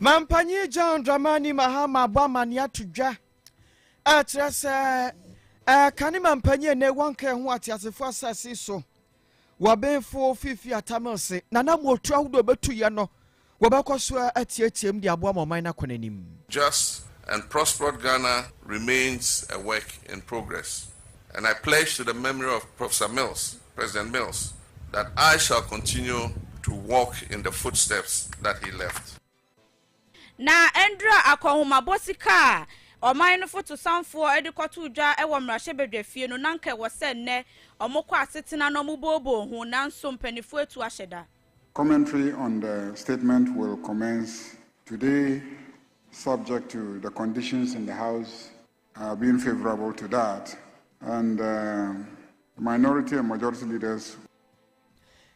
Mampanyin John Dramani Mahama abɔ amanneɛ ato dwa a ɛkyerɛ sɛ ɛka ne mampanyin a ɛnɛ wɔnka ɛho ateasefo asase so wɔ benfo fifi atamil se na na motu ahodoɔ bɛtu yɛ no wɔbɛkɔ so atiatiam de aboa ma ɔman no akɔ n'anim. Just and prospered Ghana remains a work in progress and I pledge to the memory of Professor Mills President Mills, that I shall continue to walk in the footsteps that he left. Na Andrew akɔnhomabɔ sika a ɔman no fotosanfoɔ de kɔtoo dwa wɔ mmarahyɛbadwafie no, na anka ɛwɔ sɛ nnɛ wɔkɔ asetena na wɔbooboo ho, nanso mpaninfoɔ atu ahyɛ da. Commentary on the statement will commence today subject to the conditions in the House Uh, being favorable to that, and uh, minority and majority leaders.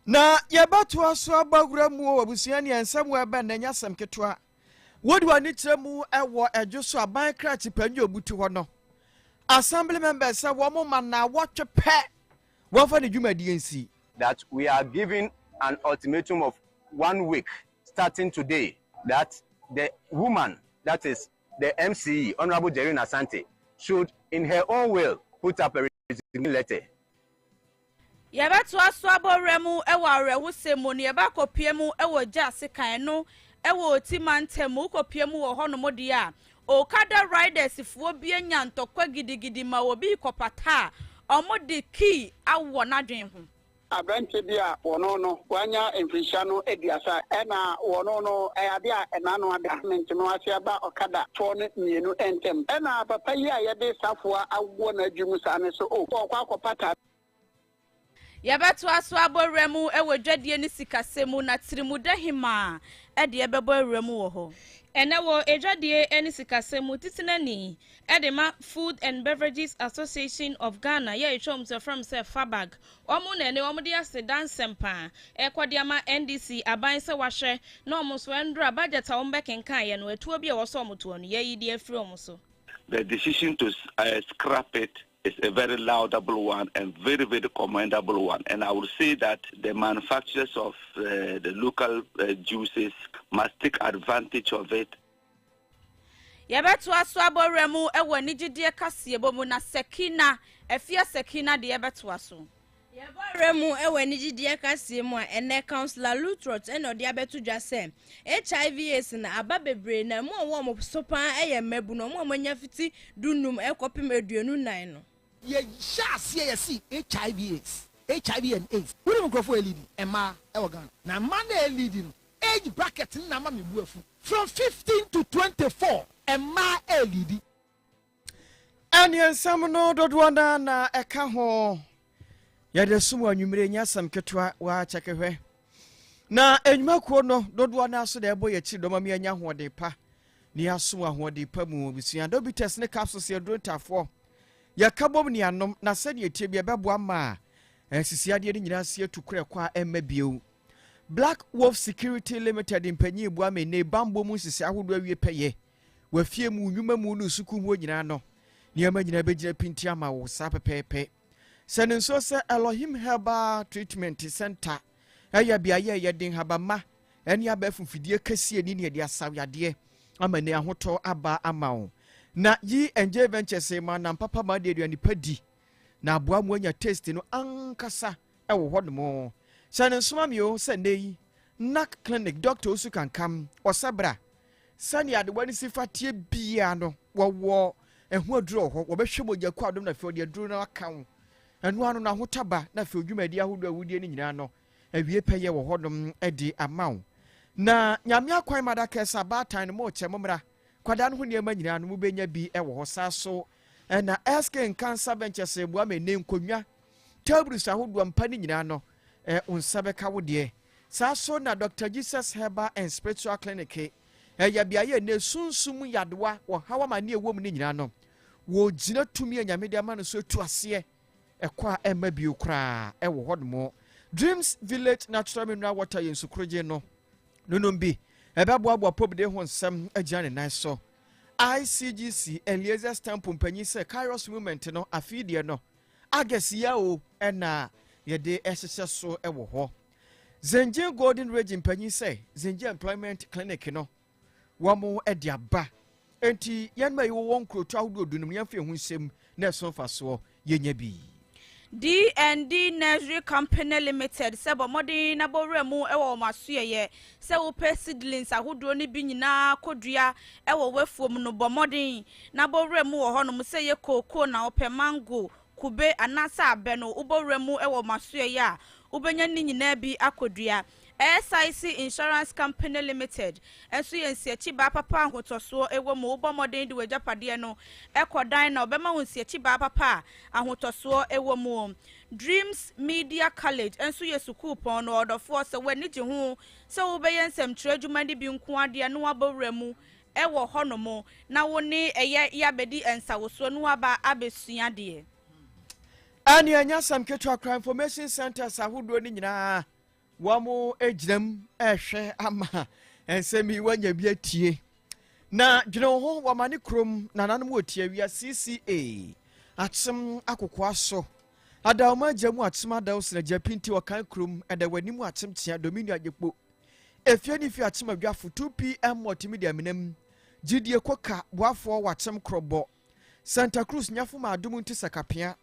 na yɛbɛtoa so aba wura mu wɔ abusua ne ɛnsɛm wɔ ɛbɛn na ɛnyɛ asɛm ketewa wode w'ani kyerɛ mu ɛwɔ ɛdwo so aban kra kyipanyi obutu hɔ no assembly members sɛ wɔn ma na wɔtwe pɛ wɔmfa ne dwumadie nsi that we are given an ultimatum of one week starting today that the woman that is the MC, Honourable Jerrine Asante, should in her own will put up a resignation letter. Yɛbɛtoa so abɔ ɔwera mu wɔ awerɛhosɛm mu, na yɛbɛakɔpue mu wɔ gya ase kan no wɔ Oti mantam mu. Wokɔpue mu wɔ hɔnom deɛ a, Okada Riders foɔ bi anya ntɔkwa gidigidi ma obi rekɔpata a, wɔde key awɔ n'adwene ho. Aberantsɛ bi a wɔnoo no ɔannya mfirhyia no eduasa na wɔnoo no ade a n'ano ada ne ntseno ase aba ɔkada fɔɔ no mienu ntamu. Nna papa yi a yɛde safoa awowɔ n'adwe mu saa no so o, ɔɔkɔ akɔpata. Yɛbɛtoa so abɔ wura mu wɔ dwadie ne sikasɛm mu na Tirimuda Hemaa deɛ bɛbɔ awura mu wɔ hɔ. Ɛnnɛ wɔ Adwadie ne Sikasɛm mu, Titenani de ma Food and Beverages Association of Ghana yɛ ɛtwam nso yɛfrɛ no sɛ FABAG. Wɔn na ɛne wɔn de aseda nsɛmpa a ɛrekɔ de ama NDC aban sɛ wɔahwɛ na wɔn nso wɔandura budget a wɔbɛkenkaneɛ no atuo bi a ɛwɔ sɛ wɔn toɔ no yɛyi de afiri wɔn so. The decision to scrap it is a very laudable one and very very commendable one and I would say that the manufacturers of the local juices must take advantage of it. Yɛbɛtoa so abɔ wura mu wɔ anigyedeɛ kaseɛbɔ mu na Sakina, afia Sakina deɛ yɛbɛtoa so. Yɛbɔ wura mu wɔ anigyedeɛ kaseɛ mu a ɛnɛ Councillor Lutrot na ɔde abɛto dwa sɛ HIV AIDS no aba bebree na mu a wɔn wɔn so paa yɛ mmabunu, wɔn a wɔanya fiti du nnum kɔpem aduonu nnan no. Yɛhyɛɛ aseɛ yɛsee HIV AIDS, HIV and AIDS, wonim nkurɔfoɔ a ɛliidi? Mmaa wɔ Ghana na mmaa no a ɛliidi no Age bracket no na ama me bo afu. From fifteen to twenty four mmaa ɛɛliidi. Ɛneɛ nsɛm no dodoɔ no na ɛka ho yɛde som anwummere nyɛ asɛm ketewa wɔakyɛke hwɛ na nnwumakuo no dodoɔ no so na ɛbɔ yɛ akyiri dɔma mi anya ahoɔden pa ne asom ahoɔden pa mu abusua dobitas ne capsules yɛduro ntafoɔ yɛka bom ne anom na sɛdeɛ ɛtie bi ɛbɛboa ma a asisi adeɛ no nyinaa si atu korɛ kɔ a ɛmma bio Black Wolf Security Limited mpanyin boa me ne bammɔ mu nsese ahodoɔ awie pɛyɛ wɔ afie mu, nnwuma mu ne sukuu mu hɔ nyinaa no. Nneɛma nyinaa bɛgyina pinti ama wo saa pɛpɛɛpɛ. Sɛ ne nso sɛ Elohim Herbal Treatment Center ɛyɛ beaeɛ a yɛde nhabamma ɛne abɛɛfo mfidie kɛseɛ ni ne yɛde asaw yadeɛ ama ne ahotɔ aba ama wo. Na yi NJ Ventures ma nam papa ma de aduane pa di. na aboa mu anya taste no ankasa wɔ hɔ nom sɛ no nsoma mi o sɛ nnɛ yi nac clinic doctor osu kankam ɔsɛ bra sɛnea adewa no si fa tie biara no wɔwɔ ɛho aduro wɔ hɔ wɔbɛhwɛ mogya kɔ adom na afei ɔde aduro no aka wo ɛno ano no ahotaba na afei odwumadi ahodoɔ a wodie no nyinaa no awie pɛyɛ wɔ hɔ nom de ama wo na nyame akwan madakɛsa baatan no mo kyɛ mo mmra kwadaa no ho nneɛma nyinaa no mobɛnya bi wɔ hɔ saa so Ɛna ɛske nka nsa bɛnkyɛ sɛ boa me ne nkonnwa tables ahodoɔ mpa ne nyinaa no ɛ nsa bɛka wo deɛ saa so na Dr. Jesus Herbal and Spiritual Clinic ɛyɛ beaeɛ ne sunsum yadewa wɔ hawa ma ne ɛwɔ mu ne nyinaa no wɔgyina tumi a nyame de ama no so tu aseɛ ɛkɔ a ɛmma bio koraa ɛwɔ hɔ nom Dreams Village Natural Mineral Water yɛ nsukorogye no nonom bi ɛbɛboaboa pobde ho nsɛm agyina ne nan so ICGC Eliezer's Temple mpanyin sɛ Kairos Movement no afei deɛ no August yɛ o ɛna yɛde ɛhyehyɛ so wɔ hɔ. Zengye Golden Region mpanyin sɛ Zengye Employment Clinic no wɔn de aba. Enti yɛn ma yɛwɔ wɔn nkurotu ahodoɔ dunum yɛn fɛ ho nsɛm na ɛso mfasoɔ. yɛnya bi. D and D Nursery Company Limited sɛ bɔ mmɔden na bɔ wura mu wɔ wɔn asoɛeɛ sɛ wopɛ seedlings ahodoɔ no bi nyinaa kɔdua wɔ w'afuom no, bɔ mmɔden na bɔ wura mu wɔ hɔnom, sɛ ɛyɛ kookoo na wopɛ, mango, kube anaasɛ abɛ no, wobɔ wura mu wɔ wɔn asoɛeɛ a, wobɛnya ne nyinaa bi akɔdua. SIC Insurance Company Limited nso yɛ nsiakyibaa papa a ahotɔsoɔ wɔ mu, wobɔ mmɔden de w'agyapadeɛ no kɔ dan na wɔbɛma wo nsiakyibaa papa a ahotɔsoɔ wɔ mu. Dreams Media College nso yɛ sukuupɔn no ɔdɔfoɔ, sɛ w'ani gye ho sɛ wobɛyɛ nsɛmtwerɛ adwuma no bi nko ara deɛ na woabɔ wura mu wɔ hɔnom na wo ne ɛyɛ yɛ abɛdi nsawosoɔ na woaba abɛsua adeɛ. Ɛnneɛ ɛnyɛ asɛm ketewa koraa, information centres ahodoɔ no nyinaa Wɔagyinam rehwɛ ama nsɛm yi wɔanya bi atie. Na dwene wo ho, wɔamane kurom nananom wɔ tiawia CCA, akyem akokoa so. Adaoma agya mu akyem adaw sena gya pinti ɔkan kurom ɛda w'anim akyem kyea domini agyekpo. Efie ne fie akyem adwafo 2pm multimedia menam. Gyidie koka boafoɔ wakyem korɔbɔ. Santa Cruz nyafo ma adom nti sakapea.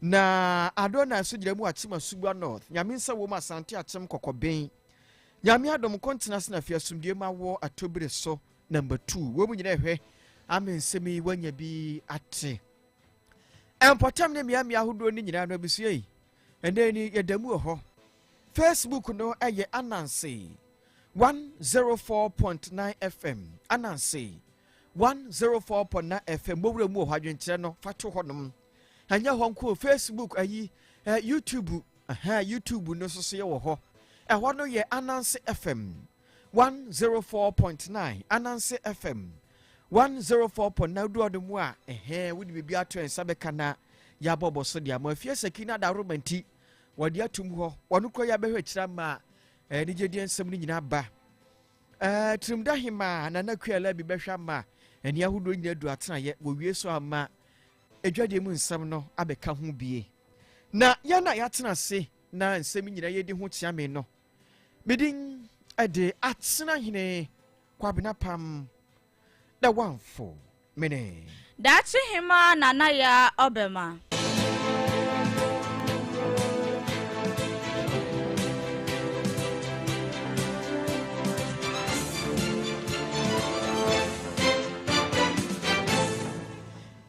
Na Adonai nso gyina mu Akyem Asubua North, Nyame nsa wom Asante Akyem Kɔkɔben. Nyame adom nko ntena ase na fi asomdue ma wɔ Atobire so number two. Wei mu nyina ɛhwɛ ama nsɛm yi wanya bi ate. Ɛmpɔtam ne mmea mmea ahodoɔ no nyinaa no abusua yi. Ɛnɛ ni yɛda mu wɔ hɔ. Facebook no ɛyɛ Ananse 104.9 FM. Ananse 104.9 FM. Mowura mu wɔ hɔ adwenkyerɛ no fa to hɔnom. ɛnyɛ hɔ nko facebook ayi eh, youtube eh, youtube no nso so yɛ wɔ hɔ ɛhɔ no yɛ ananse fm 104.9 ananse fm 104.9 wodu ɔde mu a ɛhɛn wode biribi ato nsa bɛka na yɛabɔ bɔ so de ama afie saki no adaroma nti wɔde atum hɔ wɔno kora yɛabɛhwɛ akyira ma eh, anigyedeɛ nsɛm no nyinaa ba Ɛɛ, Tirimda Hemaa Nana Kualabi bɛhwɛ ama ani ahodoɔ nyina adu atenaeɛ. Wɔwie so ama adwadeɛ mu nsɛm no abɛka ho bie. Na yɛn a yɛatena ase na nsɛm nyina yɛdi ho kyeame no, medin de Atenahene Kwabena Pam Na wamfo mene. Daakye hemaa Nana Yaa ɔbɛma.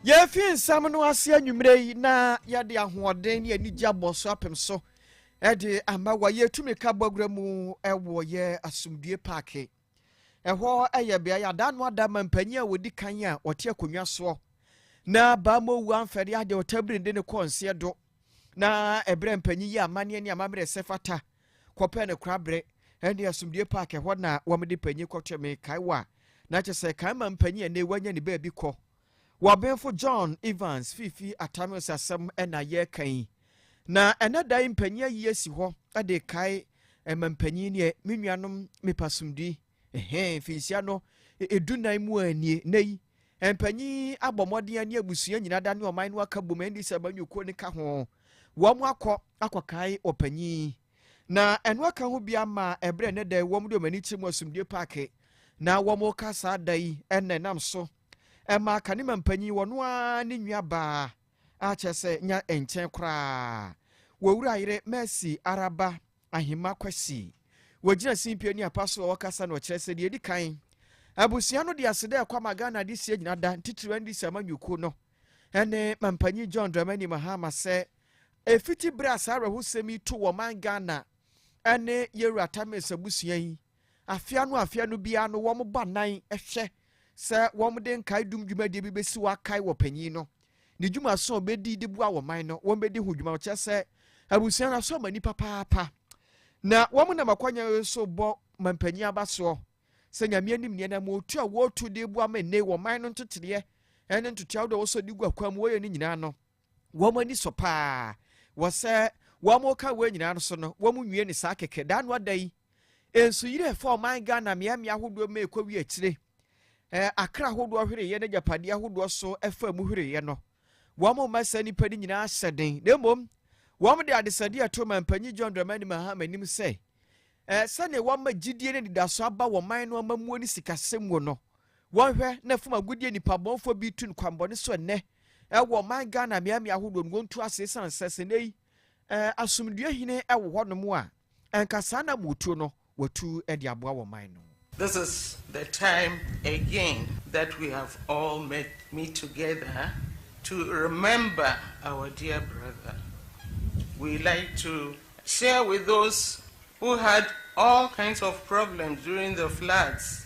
Yɛrefi nsɛm no ase anwummerɛ yi na yɛde ahoɔden ne anigye abɔ so apem so de ama wɔ yɛtumi ka bɔgorɔ mu wɔ yɛ asomdue paake Ɛhɔ yɛ beae a da no ada ma mpanyin a wɔdi kan a wɔte akonnwa soɔ na Baamowu amfɛre adeɛ ɔtabiri de ne kɔɔ nseɛ do na ɛberɛ mpanyin yi amanneɛ ne amammerɛ sɛ fata kɔpɛ ne koraberɛ ɛne asomdue paake hɔ na wɔde panyin kɔtɔ me kae wɔ a na kyɛ sɛ kan ma mpanyin a ɛnɛ wanya ne baabi kɔ W'abenfo John Evans Fifi Atamios asɛm na yɛreka yi. Na ɛnɛ da yi mpanyin ayi asi hɔ de kae ɛma mpanyin ne me nuanom mepa somdui. Ɛhɛn finhyia no edu nan mu a nie nɛ yi. Mpanyin abɔ mmɔden ani abusua nyinaa da ne ɔman no aka bom ɛndi sɛ banyukuo ne ka ho. Wɔn akɔ akɔkae ɔpanyin. Na ɛno aka ho bia ma ɛberɛ ɛnɛ da wɔn de wɔn ani kyerɛ mu asomdue paake na wɔn ka saa da yi ɛnna ɛnam so ɛmaa Kanema mpanyin, wɔno ara ne nua baa a kyerɛ sɛ nya nkyɛn koraa wɔ Wura Yere Mercy Araba Ahima Kwasi. Wɔgyina simpie ne apa so a wɔkasa na ɔkyerɛ sɛ deɛ ɛdi kan, abusua no de ase dɛ ɛkɔ ama Ghana de sie gyina da ntitiriw NDC amanyɔkuo no ɛne mampanyin John Dramani Mahama sɛ ɛfiti berɛ a saa awerɛhosɛm yi to wɔ man Ghana ɛne Yɛwura Tames abusua yi Afe ano afe ano biara no wɔn baanan hwɛ sɛ wɔde nkae dum dwumadie bi bɛsi hɔ akae wɔ panyin no ne dwumaso a ɔbɛdi de boa wɔ man no wɔn bɛdi ho dwuma ɔkyerɛ sɛ abusua no asɔ mani papaapa na wɔn nam akwanya yi so bɔ mampanyin abasoɔ sɛ nyame anim neɛ na motu a wɔtu de boa ma nne wɔ man no ntotereɛ ɛne ntoteɛ ahodoɔ wɔsɔ de gu akwan mu wɔyɛ no nyinaa no wɔn ani sɔ paa wɔ sɛ wɔreka wei nyinaa no so no, wɔnwie ne saa kɛkɛ. Daa no ada yi, nsuyiri a ɛfa ɔman Ghana mmeammea ahodoɔ ma ɛkɔwie akyire, akra ahodoɔ hwereeɛ ne agyapadeɛ ahodoɔ so ɛfa mu hwereeɛ no, wɔn mma saa nnipa no nyinaa hyɛ den na mmom wɔn de adesadeɛ ɛto mampanyin John Dramani Mahama anim sɛ sɛdeɛ wɔma gyidie ne anidaso aba wɔ man no amammuo ne sikasɛm mu no, Wɔnhwɛ na fam agodie nnipabɔnfoɔ bi retu no kwanbɔne so ɛnnɛ wɔ ɔman Ghana mmeammea ahodoɔ no, wɔntu ase ɛsiane sɛ sɛ nnɛ yi asomdwoeɛ hene wɔ hɔnom a, anka saa na motuo no wɔatu de aboa wɔn man no. This is the time again that we have all met meet together to remember our dear brother. We like to share with those who had all kinds of problems during the floods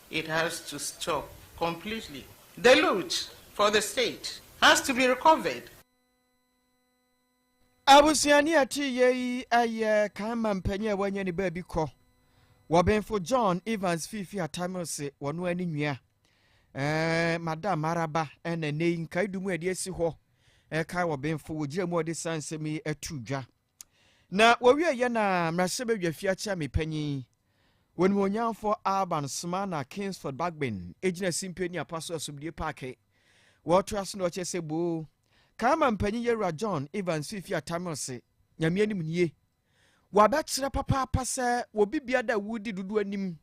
It has to stop completely. The loot for the state has to be recovered. Abusuani a ɛte yɛ yi yɛ kan mampanyin a wanya ne baabi kɔ wɔ Benfo John Evans Fifi Atamilse wɔ no ani nwia. Ɛɛ Madam Araba ɛna nnɛ yi nkaedu mu a ɛde asi hɔ ɛka wɔ Benfo wɔ gyina mu a ɔde saa nsɛm yi ato dwa. Na wɔwieeɛ na mmarahyɛbadwa fie akyerɛme panyin wɔnimuonyamfoɔ Alban Sumana Kingsford Bagbin gyina Simpey ne Apaso Asubdie Paake wɔtoa so na ɔkyerɛ sɛ boo Kaama mpanyin Yɛwura John Evans Fifi Atamilse Nyame anim nie wɔabɛkyerɛ papaapa sɛ wɔ bibia da wodi dodo anim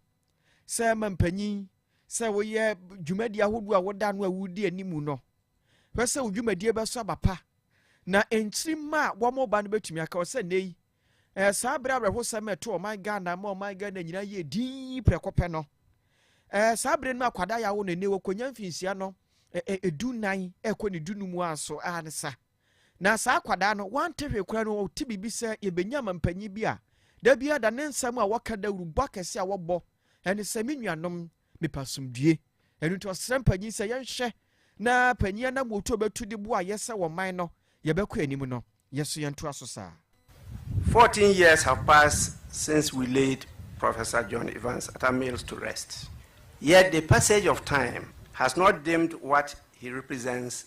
sɛ ma mpanyin sɛ woyɛ dwumadi ahodoɔ a woda no a wodi anim no Hwɛ sɛ wo dwumadie bɛso aba pa, na nkyiri mma a wɔreba no bɛtumi aka hɔ sɛ nnɛ yi ɛyɛ saa berɛ awerɛhosɛm a ɛto ɔman Ghana ma ɔman Ghana nyinaa yɛ din prɛko pɛ no. Ɛyɛ saa berɛ no mu akwadaa yɛ awo no nnɛ wɔkɔnya mfinhyia no ɛdu nan ɛkɔ ne du no mu anso a ne sa. Na saa akwadaa no wante hwee koraa no ɔte biribi sɛ yɛbɛnya ma mpanyin bi a da biara da ne nsɛm a wɔka dawurubɔ akɛse a wɔbɔ ɛne sɛ me nuanom mepɛ asomdwie. Ɛno nti ɔsrɛ mpanyin sɛ yɛnhwɛ na panyin anammuotu a ɔbɛtu de boa a yɛsɛ wɔ man no yɛbɛkɔ anim no, yɛn nso yɛntoa so saa. Fourteen years have passed since we laid Professor John Evans Atta Mills to rest, yet the passage of time has not dimmed what he represents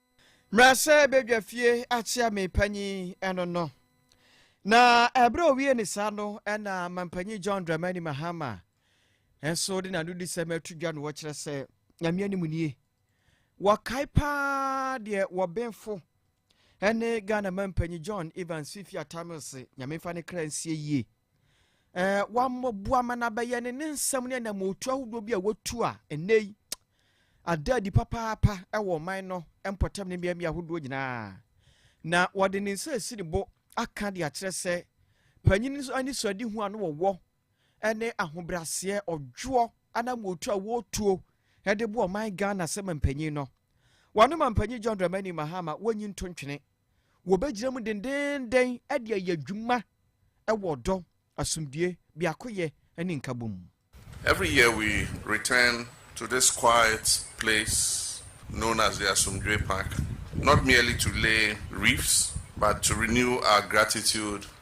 Mmerɛ sɛ badwa fie akyea me panyin ɛno no. Na ɛberɛ owie ne saa no ɛna mampanyin John Dramani Mahama nso de n'ano di sɛ mɛto dwa no wɔkyerɛ sɛ nyame anim nie. Wɔkae paa deɛ wɔbenfo ɛne Ghana mampanyin John Evans Fifi Atamil se nyame fa ne kra nsie yie. ɛɛ wammɔboa ma no abɛyɛ ne ne nsɛm ne anamotu ahodoɔ bi a watu a ɛnnɛ yi ada adi papaapa ɛwɔ ɔman no mpɔtam ne mmeammea ahodoɔ nyinaa na wɔde ne nsa asi ne bo aka de akyerɛ sɛ panyin nso ani so adi ho a no wɔwɔ ɛne ahobraseɛ ɔdwoɔ anamotu a wɔtuo ɛde bo ɔman ghana sɛ mampanyin no wɔn mampanyin john dramani mahama wɔnyi nto ntwene wɔbɛgyina mu dendeenden de ayɛ adwuma wɔ ɔdɔ, asomdwoe, biakoyɛ, ne nkabom mu. Every year we return to this quiet place known as the Asomdwoe Park, not merely to lay wreaths, but to renew our gratitude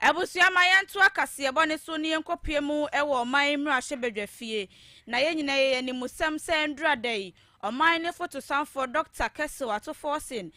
Abusua ma yɛntoa kaseɛbɔ no so na yɛnkɔpue mu wɔ ɔman mmarahyɛbadwafie na yɛn nyinaa yɛyɛ animusɛm sɛ ɛndura da yi ɔman no fotosanfoɔ Dɔkta Kessel Ato Forson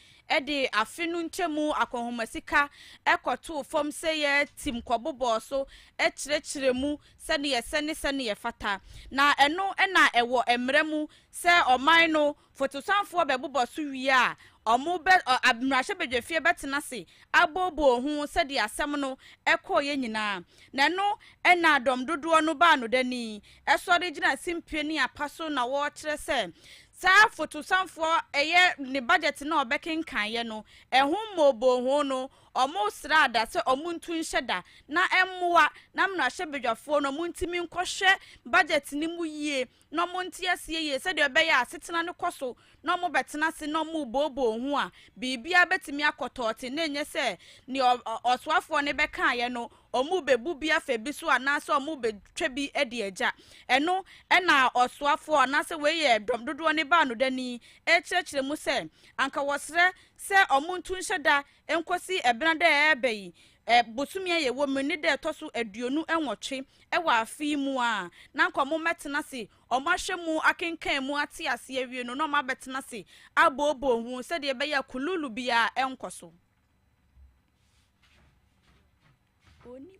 de afe no nkyɛmu akɔnhoma sika kɔtoo fam sɛ yɛtim kɔbobɔɔ so kyerɛkyerɛ mu sɛdeɛ ɛsɛ ne sɛdeɛ ɛfata na ɛno na ɛwɔ mmara mu sɛ ɔman no Fotosanfoɔ bɛbobɔ so wie a, wɔbɛ, ɔ, ab, mmarahyɛbadwafie bɛtena ase abooboo ho sɛdeɛ asɛm no kɔeɛ nyinaa. Na ɛno na dɔm dodoɔ no baa no dani sɔre gyina simpie ne apa so na wɔrekyerɛ sɛ saa fotosanfoɔ ɛyɛ ne budget no a ɔbɛkenkaneɛ no, ɛho mmooboo ho no, wɔsraa da sɛ wɔntu nhyɛ da na ɛmmoa na mmarahyɛbadwafoɔ no wɔntumi nkɔhwɛ budget no mu yie na wɔnte aseɛ yie sɛdeɛ ɛbɛyɛ a asetena no kɔ so na wɔbɛtena ase na wɔrebooboo ho a, biribiara bɛtumi akɔ tɔɔte na ɛnyɛ sɛ deɛ ɔsoafoɔ no bɛkaeɛ no, wɔrebɛbu bi afa bi so anaasɛ wɔrebɛtwa bi de agya. Ɛno na ɔsoafoɔ anaasɛ wei yɛ dɔm dodoɔ no baanodani rekyerɛkyerɛ mu sɛ anka wɔsrɛ sɛ wɔnto nhyɛ da Enkosi ebɛn da a ɛreba yi, bosome a yɛwɔ mu yi ne da a ɛtɔ so aduonu nwɔtwe wɔ afe yi mu a, na anka wɔbɛtena ase, wɔahwɛ mu, akenkan mu, ate ase awie no, na wɔabɛtena ase abooboo ho sɛdeɛ ɛbɛyɛ a kululu biara renkɔ so. Onim.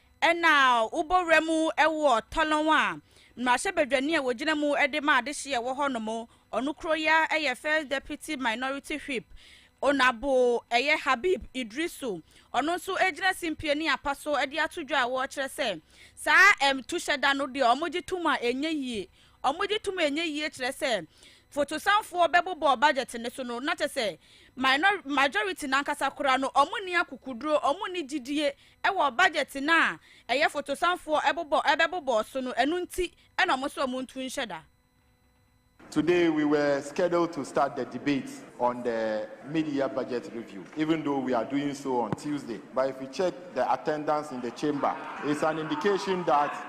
Ɛna wobɔ wura mu wɔ Tɔlɔn a, mmarahyɛbadwani a wɔgyina mu de ma adehye a ɛwɔ hɔnom, ɔno kuro yi ara yɛ First Deputy Minority Whip, Onabo, ɛyɛ Habib Idrisu. Ɔno nso gyina simpie ne apa so de ato dwa a wɔkyerɛ sɛ saa ɛmtuhyɛda no deɛ wɔgye tom a ɛnyɛ yie. Wɔgye tom a ɛnyɛ yie kyerɛ sɛ fotosanfoɔ bɛbobɔ budget no so no na kyɛ sɛ minor, majority no ankasa koraa no wɔnni akokoduro, wɔnni gyidie wɔ budget no a ɛyɛ fotosanfoɔ ɛbobɔ ɛbɛbobɔɔ so no ɛno nti na ɔmo sɛ ɔmo ntu nhyɛ da. Today we were scheduled to start the debate on the mid-year budget review even though we are doing so on Tuesday but if you check the attendance in the chamber it's an indication that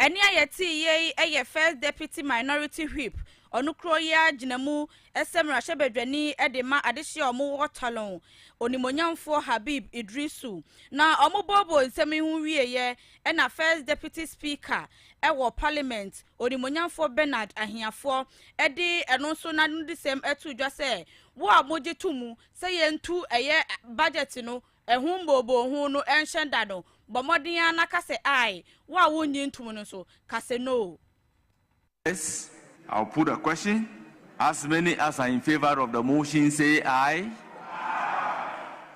Ɛne a yɛtee yɛ yi yɛ First Deputy Minority Whip, ɔno kuro yi ara gyina mu sɛ mmarahyɛbadwani de ma adehye a wɔwɔ Talon, Onimonyamfoɔ Habib Idrisu. Na wɔbooboo nsɛm yi ho wieeɛ na First Deputy Speaker wɔ Parliament, Onimonyamfoɔ Bernard Ahiafoɔ de ɛno nso n'anodisɛm too dwa sɛ, Wo a mogye to mu sɛ yɛntu ɛyɛ budget no Ɛho mboobohoo no ɛnhyɛ da no, bɔ mmɔden ara na ka sɛ ae. Wo a wonnye ntom no nso, ka sɛ no. Yes, I'll put the question, as many as are in favor of the motion say aye,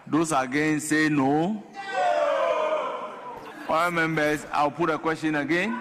those against say no. Honourable members, I'll put the question again.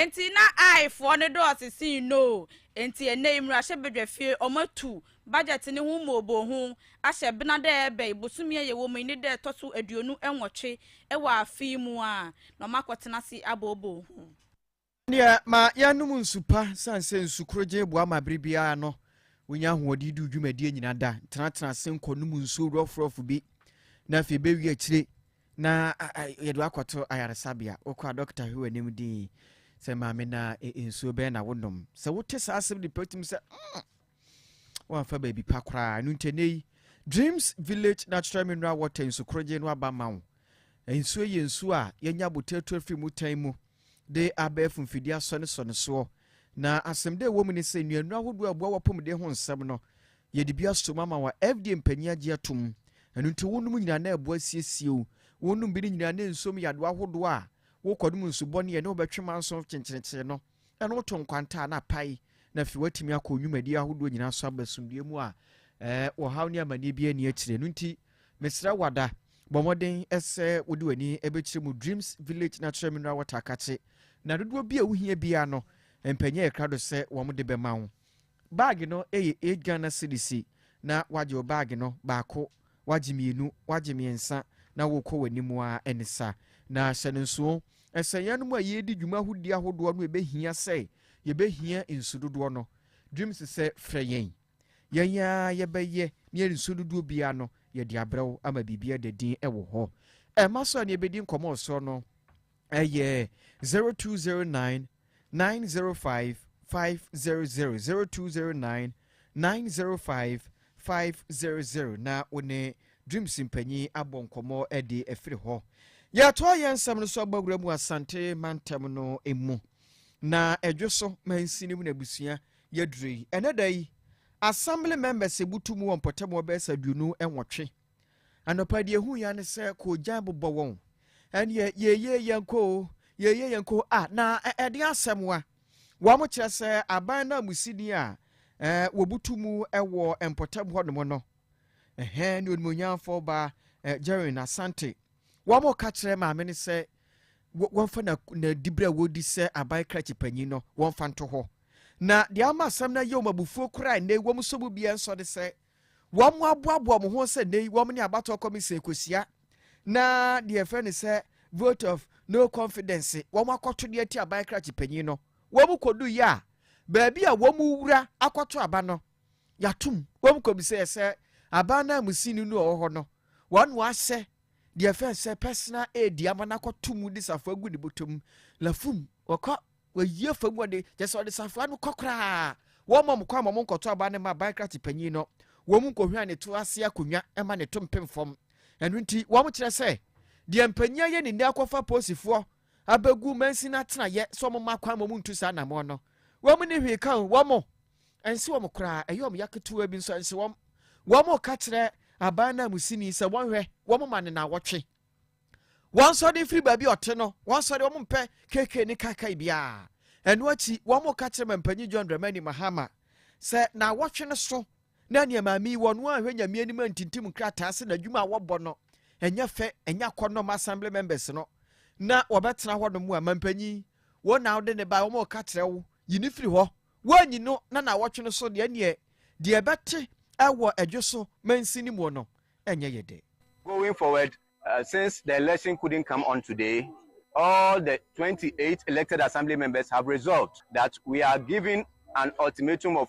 Enti na Aifoɔ no dɔɔso sen Noo, enti ɛnnɛ yi mmarahyɛbadwafie wɔn atu budget no ho mmooboo ho ahyɛ bena dɛ ɛbɛn bosome a yɛwɔ mu yi ne dɛ ɛtɔ so aduonu nwɔtwe wɔ afe yi mu a na wɔn akɔtena ase abooboo ho. Ɛnneɛ ma yɛnnom nsu pa, sane sɛ nsu korogyen boa ma bere biara no wonya ahoɔden di wo dwumadie nyina da. Tenatena ase nkɔnom nsuo rɔfrɔf bi, na afei bɛwie akyire Na yɛde wo akɔto ayaresabea. Wokɔ a dɔkta hwɛ w'anim din sɛ maame na nsuo bɛn na wonom. Sɛ wote saa asɛm de pɛ tumi sɛ mm, woamfa baabi pa koraa. Ɛno nti ɛnɛ yi Dreams Village Natural Mineral Water nsukorogye no aba ma wo. Nsuo yɛ nsuo a yɛnya botato afiri mu tan mu. de abɛɛfo mfidi asɔnesɔ no soɔ. Na asɛmdɛ a ɛwɔ mu ne sɛ nnuannuro ahodoɔ a ɛboa w'apɔmuden ho nsɛm no, yɛde bi asom ama wo a FDA mpanyin agye atom. Ɛno nti wonom nyinaa na ɛboa asiesie wo. Wonom bi no nyinaa na ɛnsom yadewa ahodoɔ a wokɔnom nsu bɔne a ɛne wo bɛtwe manso kyenkyenekyenye no ɛno woto nkwantaa na pae na afei woatumi akɔ wo nnwumadie ahodoɔ nyinaa so aba asomdwoeɛ mu a ɛɛ ɔhaw ne amanneɛ biara nni akyire. Ɛno nti Mesrɛ wo ada, bɔ mmɔden sɛ wode w'ani bɛkyerɛ mu Dreams Village Natural Mineral Water Akakye, na dodoɔ bi a wohia biara no, mpanyin ayɛ krado sɛ wɔde bɛma wo. Baage no yɛ eight Ghana cedis, na woagye wo baage no baako, woagye mmienu, woagye mmiɛnsa, na worekɔ w'anim ara ne sa. Na hyɛ no nsoɔ sɛ yɛn anom a yɛredi dwuma ahodie ahodoɔ no ɛbɛhia sɛ yɛbɛhia nsu dodoɔ no, Dreams sɛ frɛ yɛn. Yɛn ara yɛbɛyɛ na yɛn nsuo dodoɔ biara no yɛde abrɛ wo ama biribi ada din wɔ hɔ. Ɛma so a ne yɛbɛdi nkɔmmɔ ɔsoɔ no ɛyɛ 0209 905 500 0209 905 500 na wo ne Dreams mpanyin abɔ nkɔmmɔ de afiri hɔ. Yɛatoa yɛn nsɛm no so aba wura mu Asante mantam no mu na ɛdwo so mansini mu na abusua Yɛduru yi, ɛnnɛ da yi, Assembly members ebutu mu wɔ mpɔtam hɔ bɛyɛ sɛ aduonu nwɔtwe. Anɔpa deɛ ehu ya ne sɛ koogyan bobɔ wɔn. Ɛnneɛ yeye yɛn kɔ o, yeye yɛn kɔ o, a na ɛde asɛm wa. Wɔn kyerɛ sɛ aban nanmusini a eh, wɔbutu mu wɔ mpɔtam hɔnom no, ɛhɛn ne onimonyamfo ba eh, Jerry Asante. Wɔn ka kyerɛ maame no sɛ wɔmfa n'adibere a wɔredi sɛ aban krakye panyin no wɔmfa nto hɔ. Na deɛ ama asɛm no ayɛ wɔn abufuo koraa nnɛ yi wɔn sɔ mu biara nsɔ ne sɛ wɔaboaboa wɔn ho sɛ nnɛ yi wɔn ne abatoɔ kɔmisen kɔhyia na deɛ ɛfrɛ ne sɛ vote of no confidence wɔn akɔto deɛ ti aban krakye panyin no wɔn kɔdu yɛ a baabi a wɔn wura akɔto aba no yɛatom wɔn kɔm sɛ sɛ aban no amusini no ɔwɔ hɔ no, wɔn ahyɛ deɛ ɛfɛ sɛ personal aid ama no akɔto mu de safoa gu ne bɔtɔ mu lafum wɔkɔ wɔyi afa mu ɔde kyɛ sɛ ɔde safoa no kɔ koraa wɔn mɔm kɔ ama wɔn nkɔto aban no ma aban krate panyin no wɔn nkɔhwia ne to ase akonnwa ma ne to mpem fam ɛno nti wɔn kyerɛ sɛ deɛ mpanyin ayɛ ne nni akɔfa posifoɔ abegu mansini atenaeɛ sɛ wɔn mma kwan ma wɔn ntu saa anammɔn no. Wɔn nni hwee ka o, wɔn nse wɔn koraa, ɛyɛ wɔn ya ketewa bi nso nse wɔn. Wɔn reka kyerɛ aban nanmusini sɛ wɔnhwɛ wɔn ma ne naawɔtwe. Wɔn sɔre mfiri baabi a ɔte no, wɔn sɔre wɔn mpɛ keke ne kaakae biara. Ɛno akyi, wɔn reka kyerɛ mampanyin John Dramani Mahama sɛ naawɔtwe no so Na nea maame yi wɔ no anhwɛ Nyame anim antintim nkrataa sɛ n'adwuma a wɔbɔ no ɛnyɛ fɛ, ɛnyɛ akɔnnɔ ma assembly members no, na wɔbɛtena hɔnom a, mampanyin, wo na wode no bae, wɔreka kyerɛ wo, yi no firi hɔ. Woanyi no na naawɔtwe no so deɛ, ɛnneɛ deɛ ɛbɛte wɔ ɛdwe so mansin no mu no, ɛnyɛ yɛ dɛ. Going forward, since the election couldn't come on today, all the twenty eight elected assembly members have resolved that we are giving an ultimatum of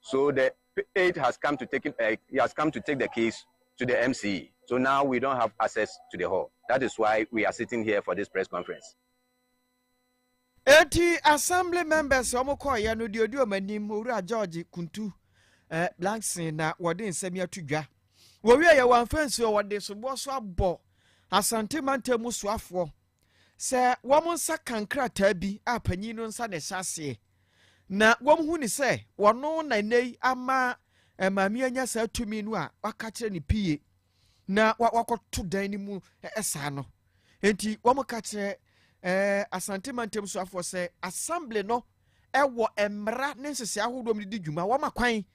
So the aide has come to take it, uh, he has come to take the case to the MC. So now we don't have access to the hall. That is why we are sitting here for this press conference. Eti assembly members wɔn kɔɔyɛ no deɛ odi wɔn anim owura George Kuntu eh, Blankson na wɔde nsɛm yi ato dwa. Wɔwie yɛ wɔn afɛnsuo wɔde soboɔ so abɔ Asante mantam mu soafoɔ Sɛ wɔn nsa ka nkrataa bi a panyin no nsa na ɛhyɛ aseɛ, na wɔhu no sɛ ɔno na nnɛ yi ama maame anya saa tumi no a waka kyerɛ no pie na wakɔto dan no mu saa no nti wɔka kyerɛ eh, asante mantam soafoɔ sɛ assembly no ɛwɔ mmara ne nhyehyɛ ahodoɔ mu de di dwuma wɔma kwan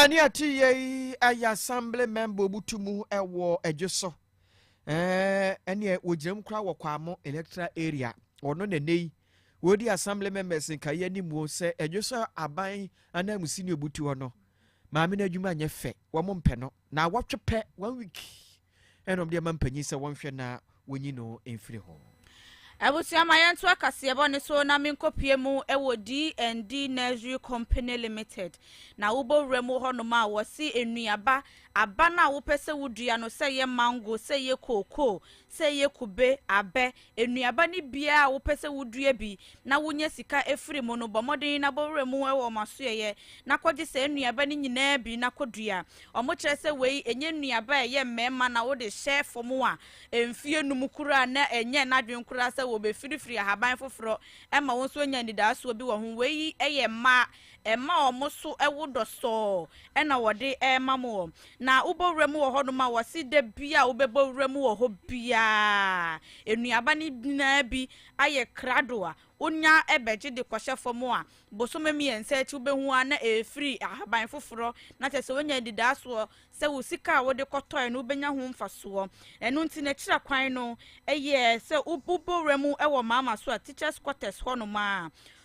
Ɛne ɛte yɛ yi ɛyɛ asamble mɛmba ɔmu tu mu ɛwɔ ɛdwe so ɛneɛ wɔgyina mu koraa wɔ Kwamo electoral area ɔno na ɛnɛ yi wɔdi asamble members nkaeɛ ne muo sɛ ɛdwe so aban ananmusi ne ɔbutuo no maame no adwuma nyɛ fɛ wɔn mpɛ no na awɔtwe pɛ one week Ɛna ɔde ama mpanyin sɛ wɔnhwɛ na wonyi no mfiri ho. Abusua ma yɛntoa kaseɛbɔ no so na menkɔpue mu wɔ DND Nursery Company Limited. Na wobɔ wura mu hɔnom a, wɔse nnuaba, aba no a wopɛ sɛ wodua no, sɛ ɛyɛ mango, sɛ ɛyɛ kookoo, sɛ ɛyɛ kube, abɛ, Nnuaba no biara a wopɛ sɛ wudua bi na wunya sika firi mu no, bɔ mmɔden na bɔ wuram ho wɔ wɔn asoɛeɛ na kɔgye saa nnuaba no nyinaa bi na kɔdua. Wɔkyerɛ sɛ wei nyɛ nnuaba a ɛyɛ mmarima na wode hyɛ fam a mfeɛ nnum koraa na ɛnyɛɛ n'adwene koraa sɛ wɔbɛfirifiri ahaban foforɔ ma wo nso anya anidaasoɔ bi wɔ ho. Wei yɛ mmaa, mma wɔn so wo dɔ sɔɔ na wɔde rema mo. Na wobɔ wura mu wɔ hɔnom a, wɔse da bi a wobɛbɔ wura mu wɔ hɔ biara, nnuaba no nyinaa bi ayɛ krado a wonya bɛgye de kɔhyɛ fam a, bosome mmiɛnsa akyi wobɛhu ara na ɛrefiri ahaban foforɔ, na kyerɛ sɛ woanya anidaasoɔ sɛ wo sika a wode kɔtɔeɛ no wobɛnya ho mfasoɔ. Ɛno nti no akyira kwan no yɛ sɛ wobɔ wura mu wɔ Maama so a, teachers quarters hɔnom a,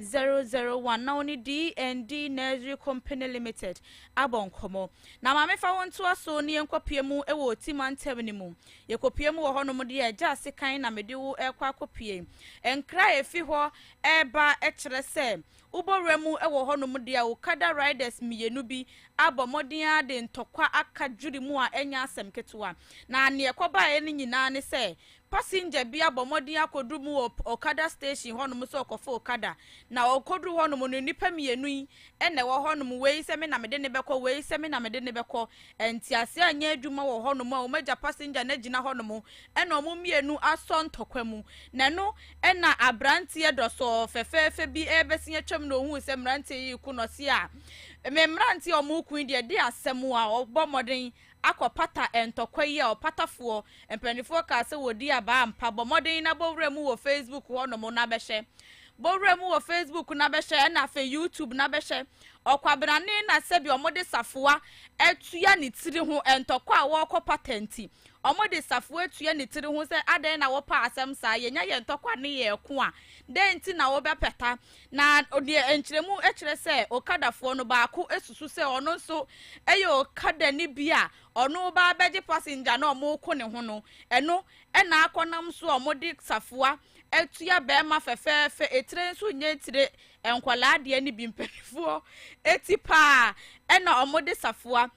001 na ɔne D and D Nursery Company Limited abɔ nkɔmmɔ. Na maame fa wo ntoa so na yɛnkɔpue mu wɔ Oti mantam no mu. Yɛkɔpue mu wɔ hɔnom deɛ a, gya sekan na mede wo rekɔ akɔpue. Nkra a ɛfi hɔ reba kyerɛ sɛ wobɔ wura mu wɔ hɔnom deɛ a, okada riders mmienu bi abɔ mmɔden ara de ntɔkwa aka dwiri mu a ɛnyɛ asɛm ketewa. Na deɛ ɛkɔbaeɛ no nyinaa ne sɛ, Passenger bi abɔ mmɔden akɔduru mu wɔ Okada station hɔnom sɛ ɔrekɔfa okada, na ɔkɔduru hɔnom no, nnipa mmienu yi na ɛwɔ hɔnom, wei sɛ me na mede no bɛkɔ, wei sɛ me na mede no bɛkɔ. Ntease anyɛ adwuma wɔ hɔnom a wɔagya passenger no agyina hɔnom na wɔn mmienu asɔ ntɔkwa mu, na ɛno na aberanteɛ dɔsɔɔ fɛfɛɛfɛ bi rebɛsen atwam na ɔhuu sɛ mmeranteɛ yi reko na ɔse, Ah, me mmeranteɛ a wɔreko yi deɛ, ɛde asɛm a wɔbɔ mmɔden akɔ pata ntɔkwa yi a ɔpatafoɔ mpaninfoɔ kaa sɛ wɔdi abaa ampa bɔ mmɔden na bɔ wura mu wɔ facebook hɔ nom na bɛhyɛ bɔ wura mu wɔ facebook na bɛhyɛ ɛna afei youtube na bɛhyɛ ɔkwabenane na sɛbi ɔmo de safoa atua ne tiri ho ntɔkwa a wɔkɔ pata nti ɔmo de safoa atua ne tiri ho sɛ adɛn na wɔpa asɛm saa yɛnya yɛ ntɔkwa ne yɛ ɛko a dɛn nti na wɔbɛpɛta Na deɛ nkyerɛmu kyerɛ sɛ okadafoɔ no baako susu sɛ ɔno nso yɛ okadani bi a ɔno reba abɛgye passenger no a wɔreko ne ho no, ɛno na akɔnam so a wɔde safoa tua barima fɛfɛɛfɛ, etire nso nyɛ etire, nkwadaa deɛ no bi mpanimfoɔ ti pa ara na wɔde safoa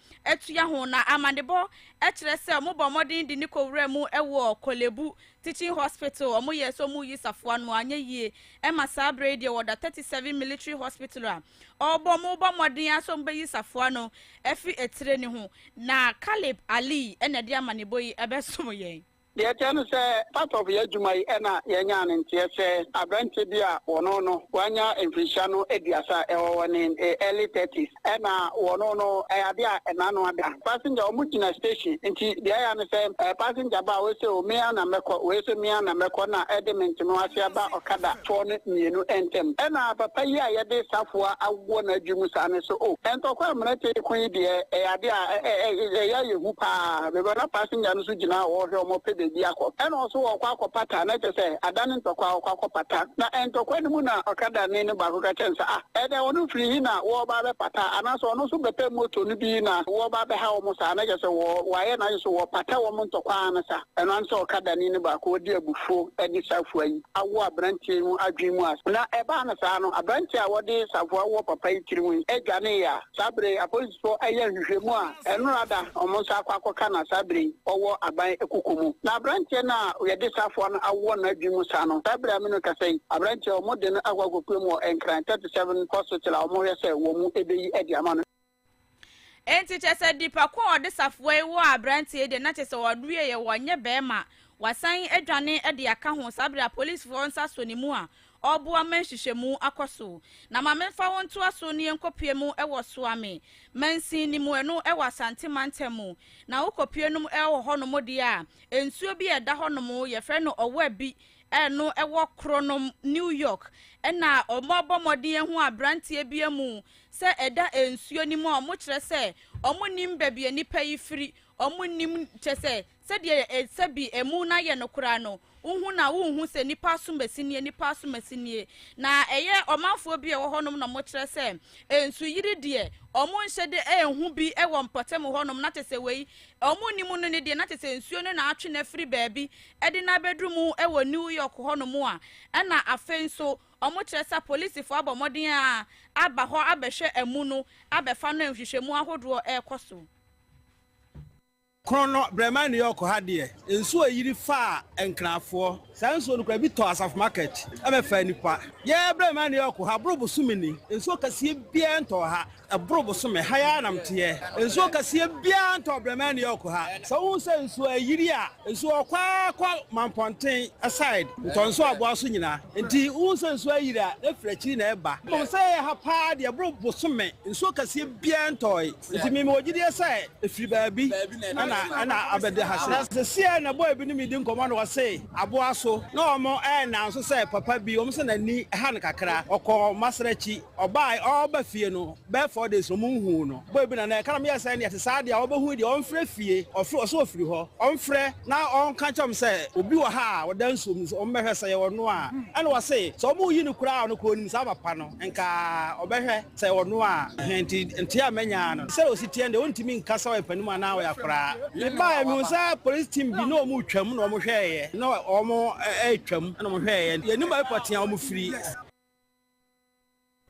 tua ho. Na amanebɔ kyerɛ sɛ wɔbɔ mmɔden de no kɔwuraa mu wɔ Korle Bu Teaching hospital ɔmo yɛɛ sɛ ɔmo yi safoa no anyɛ yie ɛma saa berɛ yi deɛ wɔda thirty seven military hospital a ɔɔbɔ ɔmo bɔ mmɔden ara sɛ ɔmo bɛyi safoa no ɛfiri atire no ho na Caleb Ali ɛna ɛde amanebɔ yi ɛbɛsom yɛn. Deɛ ɛteɛ ne sɛ part of yɛn adwuma yi ɛna yɛnyaa ne nteɛ sɛ aberanteɛ bi a wɔno no wanya mfirihyia no aduasa ɛwɔ wɔne early thirties. Ɛna wɔno no ɛyɛ adeɛ a ɛna ano ada. Passenger ɔmo gyina station nti deɛ ɛyɛ ne sɛ ɛɛ passenger ba a ɔyɛ sɛ o me ara na mɛkɔ wei nso me ara na mɛkɔ na ɛde me nteno ase aba ɔkada foɔ no mmienu ntɛm. Ɛna papa yi a yɛde safoa awɔ n'adwi mu saa no so o ntɔkwa a mmerɛ tee ko yi deɛ ɛyɛ adeɛ a ɛyɛ ayɛ hu paa because na passenger no nso gyina a ɔrehwɛ ɔmo ɔpɛ baabi akɔ ɛna ɔso ɔɔkɔ akɔ pata na kyerɛ sɛ adane ntɔkwa ɔɔkɔ akɔ pata na ntɔkwa no mu na ɔkada ni no baako ka kyerɛ no sɛ ah Ɛnɛ wɔnom firi he na wɔɔba abɛpata? Anaasɛ ɔno nso bɛpɛ motor no bi na wɔɔba abɛha wɔn saa? Na kyerɛ sɛ wɔ w'ayɛ n'adwene sɛ wɔɔpata wɔn ntɔkwa ara no sa. Ɛno ara ne sɛ ɔkadani no baako a ɔdi abufuo de safoa yi awɔ abranteɛ yi ho adwene mu ase. Na ɛbaa no saa no, abranteɛ a ɔde safoa wɔ papa yi tirim yi dwaneeɛ a. Saa bere yi, apolisifo reyɛ nhwehwɛmu a ɛno ara da wɔn nsa akɔ akɔka na saa bere yi ɔwɔ aban akuku mu. Na aberanteɛ no a wɔde safoa no awɔ n'adwene mu saa no, saa bere a me ne wo rekasa yi, aberanteɛ a wɔde no akɔ akɔpue mu wɔ Nkran thirty seven Hospital a wɔrehwɛ sɛ wɔbɛyi adi ama no. Enti kyerɛ sɛ nipa ko a ɔde safoa yi wɔ aberanteɛ yi deɛ, na kyerɛ sɛ ɔweeɛ, ɔnyɛ barima, wasan adwane de aka ho saa bere a apolisifoɔ nsa sɔ ne mu a Ɔboa ma nhwehwɛmu akɔ so. Na ma memfa wo ntoa so ne yɛnkɔpue mu wɔ Soa Me Mansin no mu, ɛno wɔ Asante Mantam mu. Na wokɔpue nom wɔ hɔnom deɛ a, nsuo bi a ɛda hɔnom, yɛfrɛ no Ɔwɔ-Abi, ɛno wɔ Kronom, New York. Ɛna wɔabɔ mmɔden ahu aberanteɛ bi amu sɛ ɛda nsuo no mu a wɔkyerɛ sɛ wɔnnim baabi a nnipa yi firi, wɔnnim, kyerɛ sɛ, Sɛdeɛ yɛ sɛ bi ɛmu na yɛ no koraa no, wohu na wonhu sɛ nnipa asomasi nie, nnipa asomasi nie. Na ɛyɛ ɔmanfoɔ bi a ɛwɔ hɔnom na wɔkyerɛ sɛ nsuyiri deɛ wɔnhyɛ da nhu bi wɔ mpɔtam hɔnom, na kyerɛ sɛ wei wɔnnim no no deɛ na kyerɛ sɛ nsuo no na atwe no afiri baabi de no abɛduru mu wɔ New York hɔnom a ɛna afei nso wɔkyerɛ sɛ apolisifoɔ abɔ mmɔden a aba hɔ abɛhwɛ amu no abɛfa no a nhwehwɛmu ahodoɔ rekɔ so. Kron no berɛ maa New York ha deɛ, nsuo yiri faa Nkrafoɔ. Saa nsuo no koraa bi tɔɔ Asafo Market bɛfaa nnipa. Yɛn berɛ maa New York ha boro bosome ni, nsuo kɛseɛ biara ntɔɔ ha. Ɛboro bosome, ha yi ara na meteɛ. Nsuo kɛseɛ biara ntɔɔ berɛ maa New York ha. Sɛ wohu sɛ nsuo ayiri a, nsuo rekɔ ara kɔ Mampɔnten side, Ntɔnso Aboa so nyinaa. Enti wohu sɛ nsuo ayiri a, na ɛfiri akyiri na ɛreba. Mmom sɛ yɛyɛ ha paa deɛ, ɛboro bosome, nsuo kɛseɛ biara ntɔɔe. Enti me mewɔ gyidie sɛ ɛfiri baabi na ɛna abɛda ha sei. Na seseɛ na boy bi ne me di nkɔmmɔ na ɔse aboa so na wɔn ɛna nso sɛ papa bi wɔn se n'ani ha no kakra ɔkɔɔ masrakyi ɔbae ɔɔba fie no bɛɛ four days no wɔn nhuu no boy bi na na ɛka na meyɛɛ sɛ ɛne ɛte saa deɛ wɔbɛhui deɛ ɔmfrɛ fie ɔfrɛ ɔse ɔfiri hɔ ɔmfrɛ na ɔnka nkyerɛ wɔn sɛ obi wɔ ha a ɔda nsuom no wɔn mmɛhwɛ sɛ ɛyɛ ɔno a ɛna ɔse sɛ wɔn reyi no koraa a ɔno koraa ɔnim saa papa no nka ɔbɛhwɛ Sɛ ɔno a, hɛn ntsi ntseaa a menyaa no. Sɛ osi tseɛ no dɛ, onntumi nnka sɛ ɔyɛ panin mu anaa ɔyɛ akoraa. Mebaeɛ, mehuu sɛ polisi team bi na wɔretwam na wɔhwɛeɛ, na wɔretwam na wɔhwɛeɛ. Yɛnnim baabi pɔtee a wɔfiri.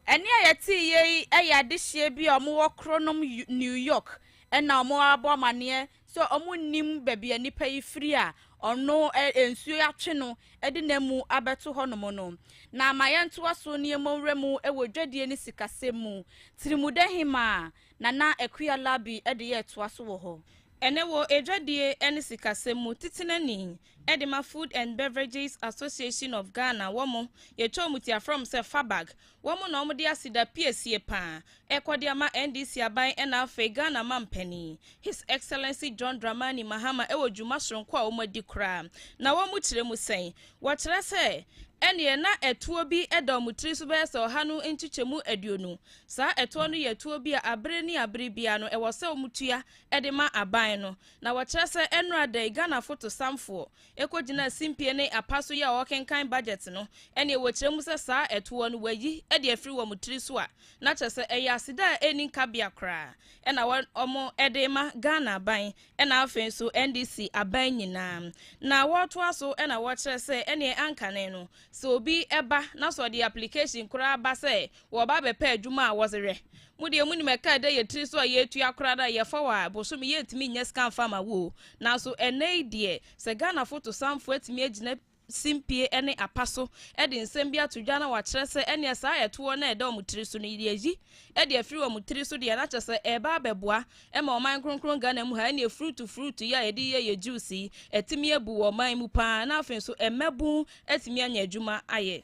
Ɛnne a yɛteeɛ yi yɛ adehyeɛ bi a wɔwɔ koronom New York na wɔabɔ amanneɛ sɛ ɔmo nnim baabi a nnipa yi firi a ɔno nsuo atwe no de no amu abɛto hɔnom no. Na ma yɛntoa so ne yɛmmɔ nwura mu wɔ dwadie ne sikasɛm mu. Tirimudɛhemaa, Nana Akua Larbi de yɛ toa so wɔ hɔ. Ɛnnɛ wɔ dwadie ne sikasɛm mu, Titenani de ma Food and Beverages Association of Ghana wɔn yɛtwa wɔn ti afrɛ wɔn sɛ FABAG Wɔn na wɔde aseda piesie paa rekɔ de ama NDC aban ɛna afei Ghana mampanin, His Excellency John Dramani Mahama wɔ dwuma soronko a wɔadi koraa. Na wɔn kyerɛ mu sɛn? Wɔkyerɛ sɛ, Ɛneɛ na ɛtoɔ bi da wɔn tiri so bɛyɛ sɛ ɔha no nkyekyɛmu aduonu. Saa ɛtoɔ no yɛ ɛtoɔ bi a abere ne abere biara no ɛwɔ sɛ wɔtua de ma aban no. Na wɔkyerɛ sɛ ɛnnora da yi Ghana fotosamfoɔ Ekogyina simpie ne apa so yɛ a wɔkenkan budget no, ɛneɛ wɔkyerɛ mu sɛ saa ɛtoɔ no wɔayi de afiri wɔn tiri so a, na kyerɛ sɛ ɛyɛ aseda a ɛnni nkabea koraa ɛna wɔn de rema Ghana aban ɛna afei nso NDC aban nyinaa. Na wɔtoa so na wɔkyerɛ sɛ ɛneɛ ankane no sɛ obi ba na sɛ ɔde application koraa ba sɛ Wɔba bɛpɛ adwuma a wɔdze yɛ. Mo deɛ munim ɛka a ɛda yɛ tiri so a yɛtua koraa no a, yɛfa wo a, bosome yɛntumi nnya sika mfa ma wo o. Nanso ɛnnɛ yi deɛ, sɛ Ghanafo tosanfoɔ atumi agyina simpie ne apa so de nsɛm bi ato dwa na wɔakyerɛ sɛ ɛnneɛ saa ɛtoɔ no a ɛda wɔn tiri so no, yɛyi de afiri wɔn tiri so deɛ, na kyerɛ sɛ ɛreba abɛboa ma ɔman kronkron Ghana mu ha. Ɛnneɛ fruit fruit yi a yɛde yɛ yɛn juice yi, atumi abu wɔ ɔman mu pa ara na afei nso mmabun atumi anya adwuma ayɛ.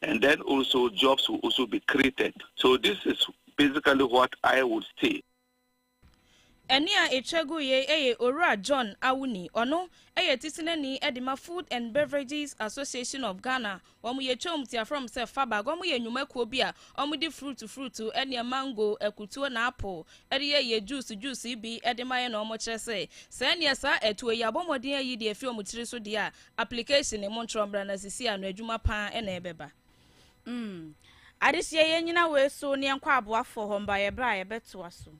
and then also jobs will also be created so this is basically what I would say. Ɛne a ɛtwa gu yei yɛ Owura John Awuni, ɔno yɛ Tisinani de ma Food and Beverages Association of Ghana, wɔyɛ Twam Tiafrɔm sɛ FABAG, wɔyɛ nnwumakuo bi a wɔde fruit fruit ɛneɛ mango, akutuo na apple de yɛ yɛ juice juice bi de ma yɛ na wɔkyerɛ sɛ sɛneɛ saa atuo yi abɔ mmɔden ayi de afi wɔn tiri so deɛ a Application ne montrɔ mbra na sisi ano adwuma paa na ɛbɛba. Mm. Adesua yɛn nyina wei so ne yɛnkɔ aboafoɔ hɔ mba yɛbrɛ a yɛbɛtoa so.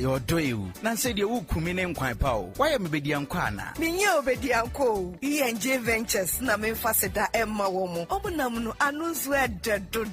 ayɛ ɔdɔ yi o nansɛ deɛ wokumi ne nkwan pa o woayɛ me bɛdiankɔ ana menyɛ obɛdiankɔ o enj ventures na memfa seda ɛmma wɔ mo ɔmo nam no ano nso ɛdɛ dodo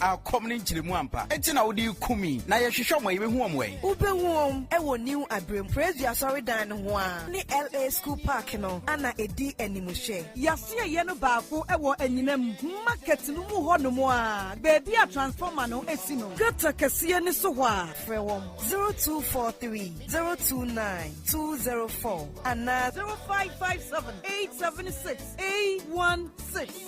A kɔm ne nkyerɛmu ampa nti na wode rekum yi? Na yɛhwehwɛ wɔn a, yɛbɛhu wɔn ɛ? Wobɛhu wɔn wɔ New Abirem, Praisedue Asɔredan no ho ara, ne LA School Park no a na ɛdi animhwɛ. Yɛasieeɛ no baako wɔ anyinam market no mu hɔnom ara, baabi a transformer no si no. Gutter kɛseɛ no so hɔ a. Frɛ wɔn 0243 029 204 anaa 0557 876 816.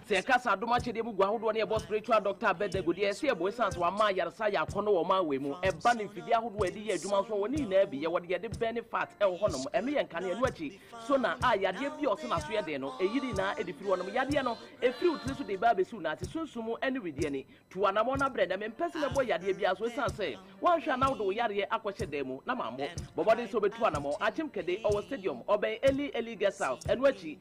Sɛ yɛka saa dom akyɛdeɛ mu gu ahodoɔ no yɛbɔ spiritual doctor Abednego deɛ ɛsɛ yɛbɔ ɛsiane sɛ wama ayaresa ayɛ akɔnnɔ wɔ ɔman wei mu. Ɛba no mfidie ahodoɔ a yɛde yɛ adwuma nso ɔwɔ ne nyinaa bi yɛ wɔ deɛ yɛde bɛne fat ɛwɔ hɔ nom ɛno yɛ nkanea ɛno akyi sona a yadeɛ bi a ɔse naso yɛ den no ɛyi ne nyinaa ɛde firi hɔ nom yadeɛ no ɛfiri wo tiri so de ba abɛsi wo nan ase sunsum mu ɛne wedeɛ ani tu anamɔn no abrɛ na mempɛ sɛ mɛbɔ yadeɛ biara so ɛsiane sɛ woanhwɛ a na wode wo yareɛ akɔhyɛ dan mu na mammɔ bɔ mmɔden sɛ wobɛtu anamɔn akyem kɛde ɔwɔ stadium ɔbɛn Eli Eli guest house ɛno akyi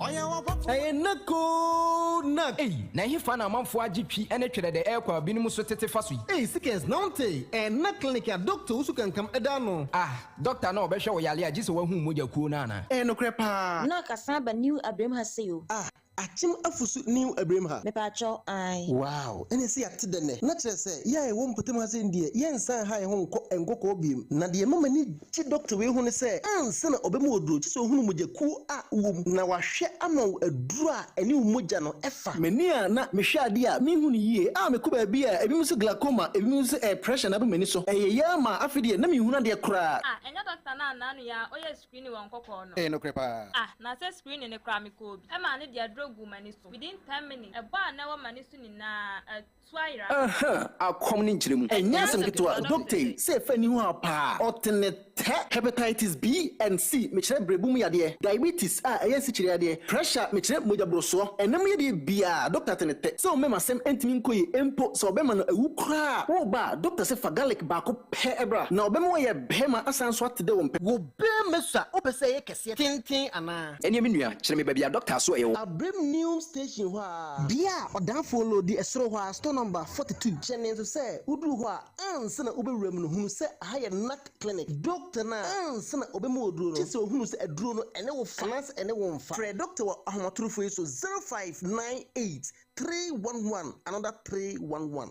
Ɛyɛ knack oo knack. Ei, na ɛhefa na amanfoɔ agye twi ne twerɛ dɛ ɛrekɔ a binom so tete fa so yi? Ei, Seekers, na wonte? Ɛyɛ knack clinic a dɔkta Owusu Kankam da ano. Ah, dɔkta no a ɔbɛhwɛ wo yare a gye sɛ woahuu mogya kuo no anaa? Ɛyɛ nokorɛ paa. Knack asan aba New Abirem ha sei o. Ah, akyem afu so New Abirem ha. Mepaakyɛw, ae. Wow, ɛne sɛ yɛate dɛ nnɛ. Na kyerɛ sɛ, yɛ a yɛwɔ mpɔtam ha sei no deɛ, yɛnsan nha yɛn ho nkɔ Nkɔkɔɔ biom. Na deɛ ɛma m'ani. Gye dɔkta wei hunu sɛ ansa na ɔbɛma wo aduro gye sɛ ɔhunu mogyakuo a wowɔ mu na wahwɛ ama wo aduro a ɛne wo mogya no fa. M'ani a na mehwɛ adeɛ a menhu no yie a mekɔ baabi a ebinom sɛ glaucoma ebinom nso sɛ ɛyɛ pressure na aba m'ani so ɛyɛ yɛ ara maa afei deɛ na menhunu adeɛ koraa. Ah ɛnyɛ dɔkta no anaa no yɛ a ɔyɛɛ screening wɔ nkɔkɔɔ no? Ɛyɛ nokorɛ paa. Ah na sɛ screening no koraa mekɔɔ bi maa no de aduro guu m'ani so within ten minutes ɛbɔ a na ɛwɔ m'ani so nyinaa atu. So ayera? Ɛhã, akɔm ne nkyerɛmu. Ɛnyɛ asɛm ketewa. Doktae sɛ ɛfa aniho haw paa. Ɔte ne tɛ. Hepatitis B and C, mekyerɛ berɛbo mu yadeɛ. Diabetes a ɛyɛ nsikyire yadeɛ. Pressure, mekyerɛ mogya borosoɔ. Ɛna mu yadeɛ biara, Dokta te ne tɛ. Sɛ ɔmmɛm asɛm ɛntumi nkɔ yie mpo, sɛ ɔbɛma no awu koraa a, woreba a, Dokta se fa garlic baako pɛ bra. Na ɔbɛma wayɛ bɛɛma asan nso ate dɛ ɔmpɛ. Wo bɛɛma su a, wopɛ sɛ ɛyɛ kɛseɛ, tenten anaa? Ɛneɛ me nua, kyerɛ me baabi a Dokta so ɛwɔ. Abrem Neom Station hɔ a. Bea a ɔdaafoɔ no di ɛsoro hɔ ara, store number forty two. Hyɛ ne nso sɛ woduru hɔ a, ansa na wobɛwura mu no, hunu sɛ ɛha yɛ NAC clinic. Dɔkta no a, ansa na ɔbɛma wo aduro no, gye sɛ ɔhunu sɛ aduro no, ɛne wo fa anaasɛ ɛne wo mfa. Frɛ dɔkta wɔ ahomatorofoɔ yi so, zero five nine eight three one one another three one one.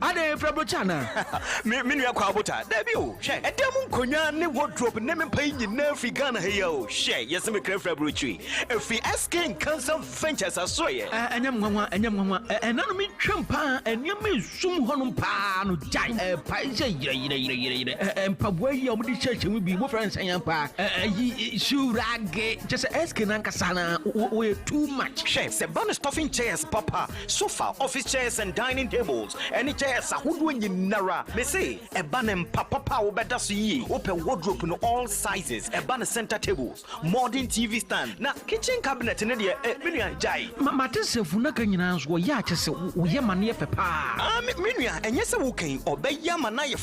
Adɛn, efrɛ Bocha anaa? Me me nua Kwao Bocha, dabi o, hwɛ, ɛdan mu nkonnwa ne wardrobe ne me mpa yi nyinaa firi Ghana ha yi a o, hwɛ, yɛse me kra firi aburokyiri, ɛfiri SK Nkansa Ventures asoɛeɛ. Aa, ɛnyɛ me nwanwa, ɛnyɛ me nwanwa, ɛ, ɛna no metwam paa, nneɛma a ɛsum hɔnom paa no, gyae, ɛ, pae sɛ yerɛ, yerɛ, yerɛ, yerɛ, yerɛ, ɛ, ɛ, mpaboa yi a wɔde hyɛhyɛ mu bi, mofrɛ no sɛn ampa ara, ɛ, ayi, shoe rage, kyerɛ sɛ SK no ankasa no ara, wo, wo, woyɛ too much. Hwɛ, sɛ ɛba no stuffing chairs papa a, Sofa, office chairs and dining tables, ɛne chairs ahodoɔ nyinara. Mese ɛba ne mpa papa a wobɛda so yie. Wopɛ wardrobe no all sizes, ɛba ne center tables, modern TV stand, na kitchen cabinet no deɛ eh me nua gyae. Ma m'adesrɛ funaka nyinaa nso ɔyɛ a kyɛ sɛ woyɛ ma no yɛ fɛ paa. Ah me nua ɛnyɛ sɛ woka yi ɔbɛyɛ ama no ayɛ.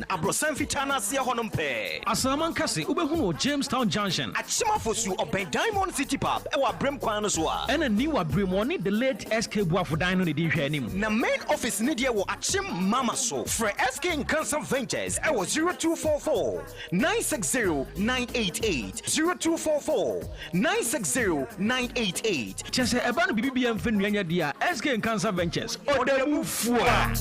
Na abrɔsan fitaa no aseɛ hɔ nom pɛɛ. Asaman kɛse wobɛhunu wɔ Jamestown Junction. Akyem afosuo ɔbɛn Diamond City Pub wɔ Abrem kwan no so a. Ɛna New Abrem wɔne the late SK Boafo dan no na ɛdi nhwɛanim. Na main office no deɛ wɔ Akyem Mama so. Frɛ SK Nkansah Ventures wɔ zero two four four nine six zero nine eight eight, zero two four four. Nine six zero nine eight eight. Kyɛ sɛ ɛba no biribi biara mfa nnua nyɛ deɛ a, SK Nkansah Ventures, ɔdabu fua!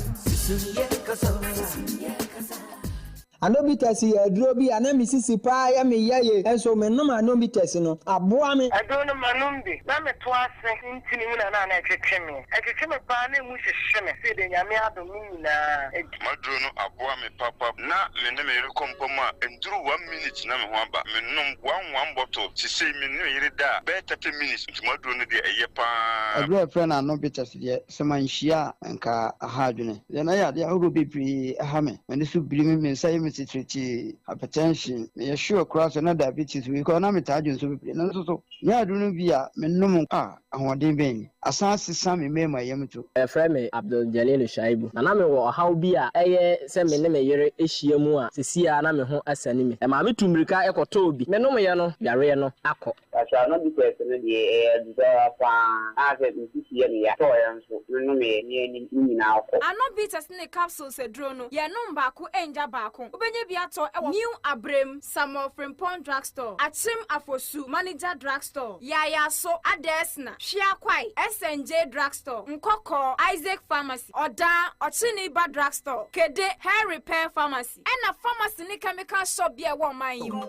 Anobitas yɛ aduro bi a na me sisi paa yɛ me yaye nso me nom anobitas no aboa me. Aduro no ma nom bi na me to ase ntini mu na na na ɛtwetwe me ɛtwetwe me paa na ɛmu hyehye me seede nyame adom me nyinaa M'aduro no aboa me papa. Ná me ne me yere kɔ mpa mu a, ɛnduru one minute na me ho aba. Menom one one bottle. Sesei me ne me yere da a, bɛyɛ thirty minutes, nti m'aduro no deɛ, ɛyɛ pa ara. Aduro a yɛfrɛ no Ano Bitters deɛ, sɛ manhyia a, anka aha adwene. Deɛ na yadeɛ ahodoɔ bebree ha me. M'ani so biri me, me nsa yɛ me titiritii, hypertension, meyɛ sure koraa sɛ na diabetes wei koraa na metaa dwene so bebree. Nanso so, menya aduro no bi a, menom a, Ahoɔden bɛn ni! Asan asesa me mmarima yam to. Wɔfrɛ me Abdul Jalilu Shaibu, na na mewɔ ɔhaw bi a ɛyɛ sɛ me ne me yere ahyia mu a seesei ara na me ho asiane me. Ɛmaa mitu mmirika kɔtɔɔ bi. Menomeeɛ no, yareɛ no akɔ. Asrama dutɛɛso no deɛ, ɛyɛ aduru ara pa ara. Ɛkaa sɛ me sisi yɛ me ya. Metɔeɛ nso, menomeeɛ, ne anim no nyinaa kɔ. Anno Bitters ne Capsules aduro no, yɛnom baako ngya baako. Wobɛnya bi atɔ wɔ New Abrem, Samuel Frimpong Drugstore, Akyem Afosu, Manager Drugstore. Store, Yayaso, Adesna, Hwea Kwae, SNJ Drugstore, Nkɔkɔɔ, Isaac Pharmacy, Ɔdaa, Ɔkyeneba Drugstore, Kede, Hair Repair Pharmacy, ɛna Pharmacy ne Chemical Shop bi a ɛwɔ ɔman yi mu.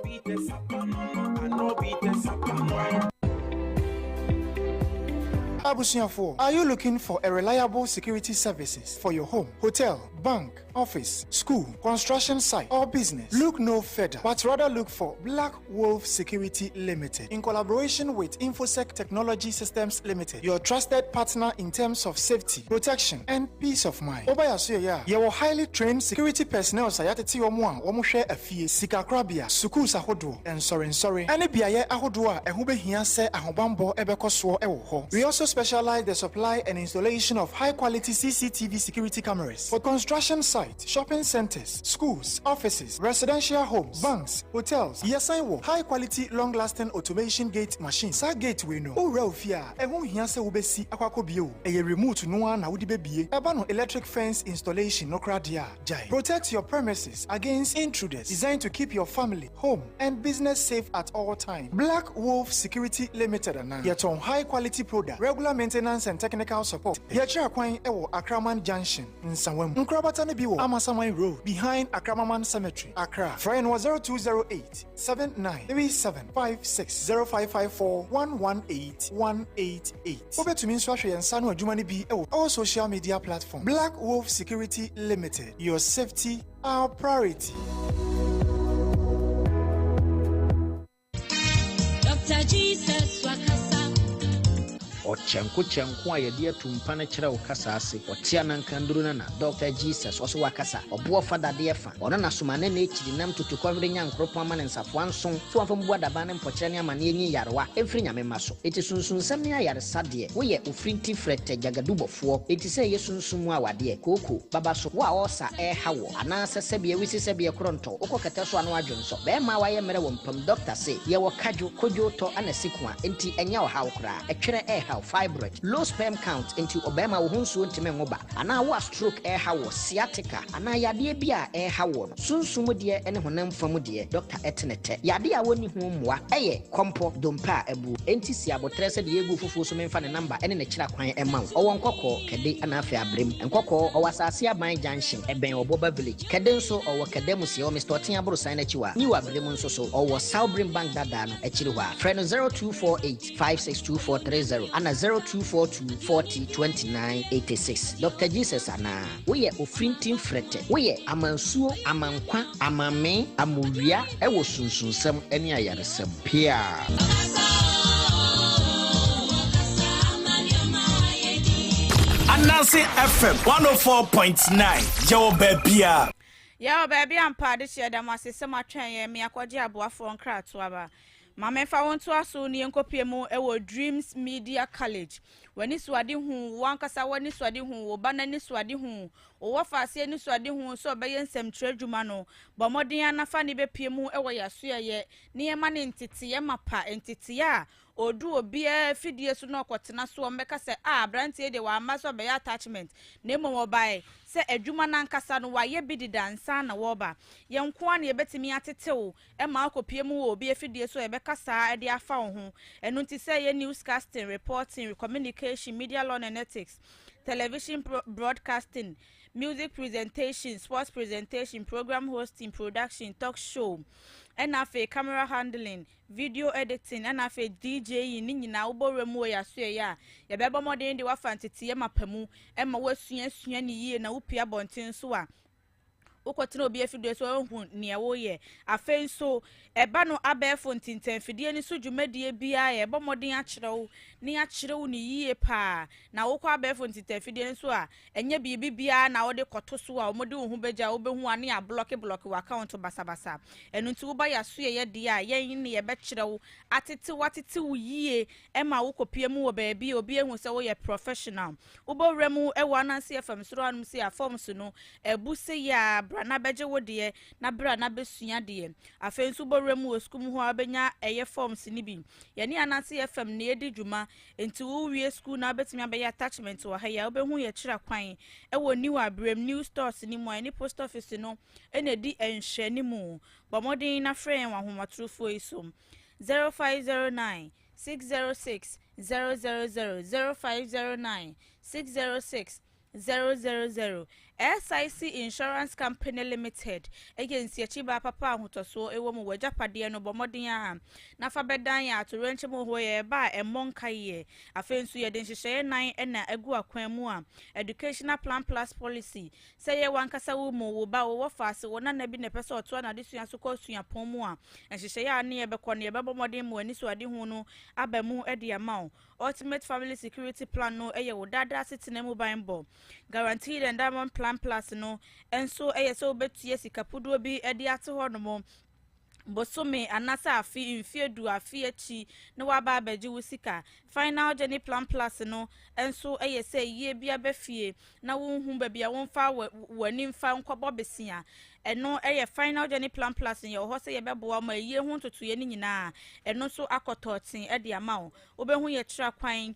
Abusuafoɔ, are you looking for a reliable security services for your home, hotel, bank, office, school, construction site or business, look no further but rather look for Black Wolf Security Limited in collaboration with Infosec Technology Systems Limited, your trusted partner in terms of safety, protection and peace of mind. Woba yɛn asoɛeɛ a, yɛwɔ highly trained security personnels a yɛatete wɔn a wɔhwɛ afie, sikakorabea, sukuus ahodoɔ, nsɔrensɔre, ne beaeɛ ahodoɔ a ɛho bɛhia sɛ ahobammɔ bɛkɔ soɔ wɔ hɔ. We also specialize the supply and installation of high quality CCTV security cameras. For construction sites, shopping centres, schools, offices, residential homes, banks, hotels, yɛsan wɔ high quality long lasting automation gate machine, saa gate wei no wowura wo fie a ɛho nhia sɛ wobɛsi akɔ akɔbie o, ɛyɛ remote no ara na wode bɛbie, ɛba no electric fence installation no koraa deɛ a gyae, protect your premises against intruders, designed to keep your family. home and business safe at all time black wolf security limited anaa yɛtɔn high quality product regular maintenance and technical support pɛ yɛkyerɛ kwan wɔ akraman junction nsawa mu nkorabata no bi wɔ amasaman road behind akramaman cemetery accra frɛ yɛn wɔ zero two zero eight seven nine three seven five six zero five five four one one eight one eight eight wobɛtumi nso ahwɛ yɛn nsa no adwuma no bi wɔ all social media platform black wolf security limited your safety Our priority. Dr. Jesus Wakasa. ɔkyɛnko kyɛnko a yɛde ato mpa no kyerɛ wo kasa ase ɔte ananka nduru no na dɔkta jesus ɔso wakasa ɔboɔ fa dadeɛ fa ɔno na soma ne na akyiri nam tutu kɔhwere nya nkoropɔn ama ne nsafoa nson so wɔmfa mbu adaban ne mpɔkyerɛ ne amanneɛ nyi yarewa ɛmfiri nyame mma so ɛti sunsunsɛm ne ayaresa Sa deɛ, wo yɛ ofirinti frɛtɛ gyagadubɔfoɔ, enti sɛ yɛ sunsum mu awadeɛ, kooko, baba so, wo a ɔɔsa ɛɛha woɔ, anaa sɛ sɛbeɛ wisi sɛbeɛ korontɔ, wokɔ kɛtɛ so a na w'adwo nsɔ, bɛɛma a w'ayɛ mmerɛ wɔ mpam, dɔkta se, yɛ wɔ kadwo, kodwoo tɔ, ana sikua, enti ɛnyɛ ɔhaw koraa, ɛtwerɛ ɛɛhaw, fibroid, low sperm count, enti ɔbɛɛma wo ho nsuo ntimi nwo ba, anaa wo a stroke ɛɛha woɔ, sciatica, anaa yadeɛ bi a ɛɛha woɔ no. Sunsum mu deɛ ne honam fa mu deɛ, dɔkta te ne tɛ. Yadeɛ a wɔnni ho mmoa yɛ, kɔmpɔ, dompe a abuo. Enti si aboterɛ sɛ deɛ ɛgu fufuo so memfa ne namba ne ne kyerɛ kwan mma wo. Ɔwɔ Nkɔkɔɔ, Kɛde, ɛna afei Abrem. Nkɔkɔɔ, ɔwɔ Asase Aban Junction, ɛbɛn Ɔboba Village. Kɛde nso, ɔwɔ Kɛde Amusiɛ, ɔwɔ Mister Ɔten aborosan no akyi hɔ a. New Abrem nso so, ɔwɔ Sawbrim Bank dadaa no akyiri hɔ a. Frɛ no 0248 562430 ana 0242 40 29 86. Dɔkta Jesus anaa? Woyɛ ofirinti mfrɛtɛ. Woyɛ amansuo, amankwa, amammee, amowia wɔ sunsunsɛm ne ayaresɛm. Peaa. Ananse FM one oh four point nine, yɛwɔ baabiaa. Yɛwɔ baabi ampa, adehyeɛ da mo ase sɛ mo atwɛn yɛn, me akɔgye aboafoɔ nkratoaba. Ma menfa wo ntoa so na yɛnkɔpue mu wɔ Dreams Media College. W'anisoadehu, wo ankasa w'anisoadehu, wo ba no anisoadehu, wo wɔfase anisoadehu sɛ ɔbɛyɛ nsɛmtwerɛ adwuma no, bɔ mmɔden ara na fa ne bɛpue mu wɔ yɛn asoɛeɛ na yɛmma no nteteeɛ mapa, nteteeɛ a ɔdu obiara afidie so na ɔkɔtena so a wɔbɛka sɛ, ah, aberanteɛ yi deɛ wamma sɛ ɔbɛyɛ attachment na mmom ɔbaeɛ sɛ adwuma no ankasa no wayɛ bi deda ansa na wɔreba. Yɛn nko ara na yɛbɛtumi atete wo. Ɛma wokɔpue mu wɔ obi afidie so a yɛbɛka saa de afa wo ho. Ɛno nti sɛ ɛyɛ newscasting, reporting, communication, media law and ethics, television broadcasting, music presentation, sports presentation, program hosting, production, talk show, ɛna afei camera handling, video editing, ɛna afei DJing ne nyinaa wobɔ wura mu wɔ yɛasoɛeɛ a, yɛbɛbɔ mmɔden de wo afa nteteeɛ mapa mu ma woasuasua ne yie na wopue abɔnten so a, Wokɔtena obi afidie so a ɔnhu neɛ woyɛ. Afei nso, ɛba no abɛɛfo ntintanfidie no so dwumadie biara a, ɛbɔ mmɔden akyerɛ wo na yɛakyerɛ wo no yie pa ara. Na wokɔ abɛɛfo ntintanfidie no so a, ɛnyɛ biribi biara na wode kɔto so a wɔde wo ho bɛgya a wobɛhu a na yɛablɔkeblɔke w'akawɔnto basabasa. Ɛno nti woba yɛasoɛeɛ deɛ a, yɛn ne yɛbɛkyerɛ wo, atete wo atete wo yie Ɛma wokɔpue mu wɔ baabi a obi ahu sɛ woyɛ professional. Wobɔ wura mu wɔ ananse fam soro hanom sei a, fam so no, abu sei ara, bra na bɛgye wo deɛ, na bra na bɛsua deɛ. Afei nso wobɔ wura mu wɔ sukuu mu hɔ a, wobɛnya ɛyɛ forms no bi. Yɛne ananse fam na yɛdi dwuma, nti wowie sukuu na wobɛtumi abɛyɛ attachment wɔ ha yi a, wobɛhu yɛ kyerɛ kwan wɔ New Abrem, New Stores no mu a yɛne Post Office no na ɛdi nhwɛanimu. Bɔ mmɔden na frɛ yɛn wɔ ahomatrofoɔ yi so. 0509 606 000 0509 606 000 SIC Insurance Company Limited yɛ nsiakyi baa papa a ahotɔsoɔ wɔ mu w'agyapadeɛ no bɔ mmɔden ara na fa bɛdan yɛn atoyerɛnkyɛm horoɔ yɛ ɛba a ɛmmɔ nkaeɛ afei nso yɛde nhyehyɛeɛ nan na agu akwan mu a Educational Plan Plus Policy Sɛ ɛyɛ wo ankasa wo mu, wo ba, wo wɔfa ase, wo nana bi na ɛpɛ sɛ ɔtoa n'adesua so kɔ suapɔn mu a, nhyehyɛe a ne yɛbɛkɔ no, yɛbɛbɔ mmɔden ma w'anisoadehu no aba mu de ama wo. Ultimate Family Security Plan no yɛ wo daa daa asetena mu banbɔ. Guaranteed Endowment Plan Plus no nso yɛ sɛ wobɛtua sika puduo bi de ate hɔnom bosome anasɛ afe mfeɛ du afe akyi na waba abɛgye wo sika final journey plan plus no nso yɛ sɛ yie bi aba fie na wonhu baabi a womfa w'ani mfa nkɔbɔ besia ɛno yɛ final journey plan plus no yɛwɔ hɔ sɛ yɛbɛboa ma ayie ho ntotoeɛ no nyinaa ɛno nso akɔtɔ ten de ama wo wobɛhu yɛ tra kwan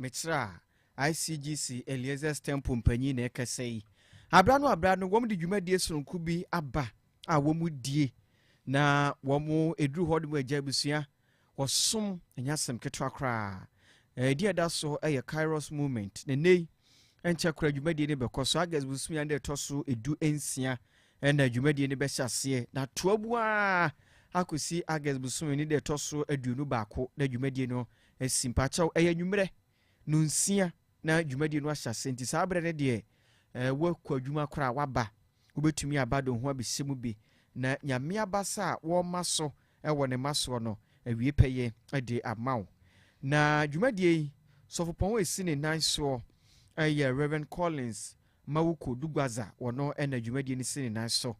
Mekyerɛ a, ICGC Eliezer's Temple mpanyin na ɛkasa yi. Abira no abira no, wɔn de dwumadie sononko bi aba a wɔn die na wɔn eduru hɔ de mu agya abusua wɔsom ɛnyɛ asɛm ketewa koraa. Ɛdi ɛda so ɛyɛ Kairos Movement. Na nnɛ yi, ɛnkyɛ koraa dwumadie no bɛkɔ so. August bosome a ɛna ɛtɔ so edu nsia ɛna dwumadie no bɛhyɛ aseɛ. Na toa bu ara akɔsi August bosome no de ɛtɔ so aduonu baako na dwumadie no asi. Mpakyɛw, ɛyɛ anwummerɛ nonsia na dwumadie no ahyɛ aseɛ nti saa berɛ no deɛ woakɔ adwuma koraa a woaba. Wobɛtumi aba de wo ho abɛhyɛ mu bi na Nyame abasa a wɔma so wɔ ne mma soɔ no awie pɛyɛ de ama wo. Na dwumadie yi sɔfopɔn a ɛsi ne nan soɔ yɛ Rev. Collins Mawuko Dugwaza, wɔno na dwumadie no si ne nan so.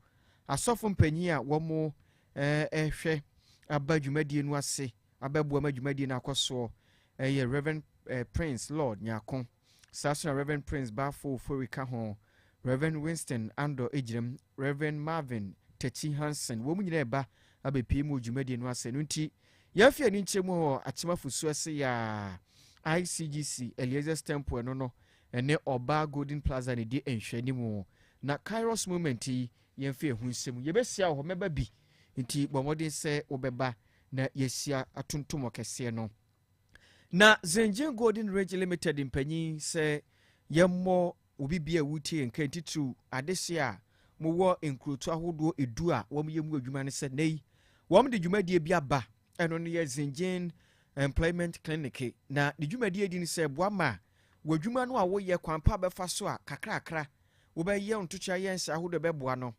Asɔfo mpanin a wɔhwɛ ba dwumadie no ase Abɛboa ma dwumadie no akɔ soɔ yɛ Rev. Prince Lord Nyarko, saa nso na Rev. Prince Baffour Ofori ka ho, Rev. Winston Andor Agyirem, Rev. Marvin Takyi Hanson, wɔn nyinaa reba abɛpue mu wɔ dwumadie no ase. Ɛno nti, yɛafi aninkyerɛ mu wɔ Akyem Afusu ase yɛ a ICGC Eliezer's Temple ɛno no ne Ɔbaa Golden Plaza na ɛdi nhwɛanim na Kairos Moment yi yɛmfa ɛho nsɛm. Yɛbɛhyia wɔ hɔ, mɛba bi, nti bɔ mmɔden sɛ wobɛba. na yɛahyia atontom ɔkɛseɛ no. Na Zengin Golden Ridge Limited mpanyin sɛ yɛmmɔ obi bia a wotie yɛn kan titiriw adehye a mowɔ nkurotu ahodoɔ edu a wɔyɛ mu adwuma no sɛ nɛyi wɔn de dwumadie bi aba ɛno no yɛ Zengin Employment Clinic na ne dwumadie di no sɛ boa ma w'adwuma no a woyɛ kwan pa bɛfa so a kakrakra wobɛyɛ ntokyea yɛ nhyɛ ahodoɔ bɛboa no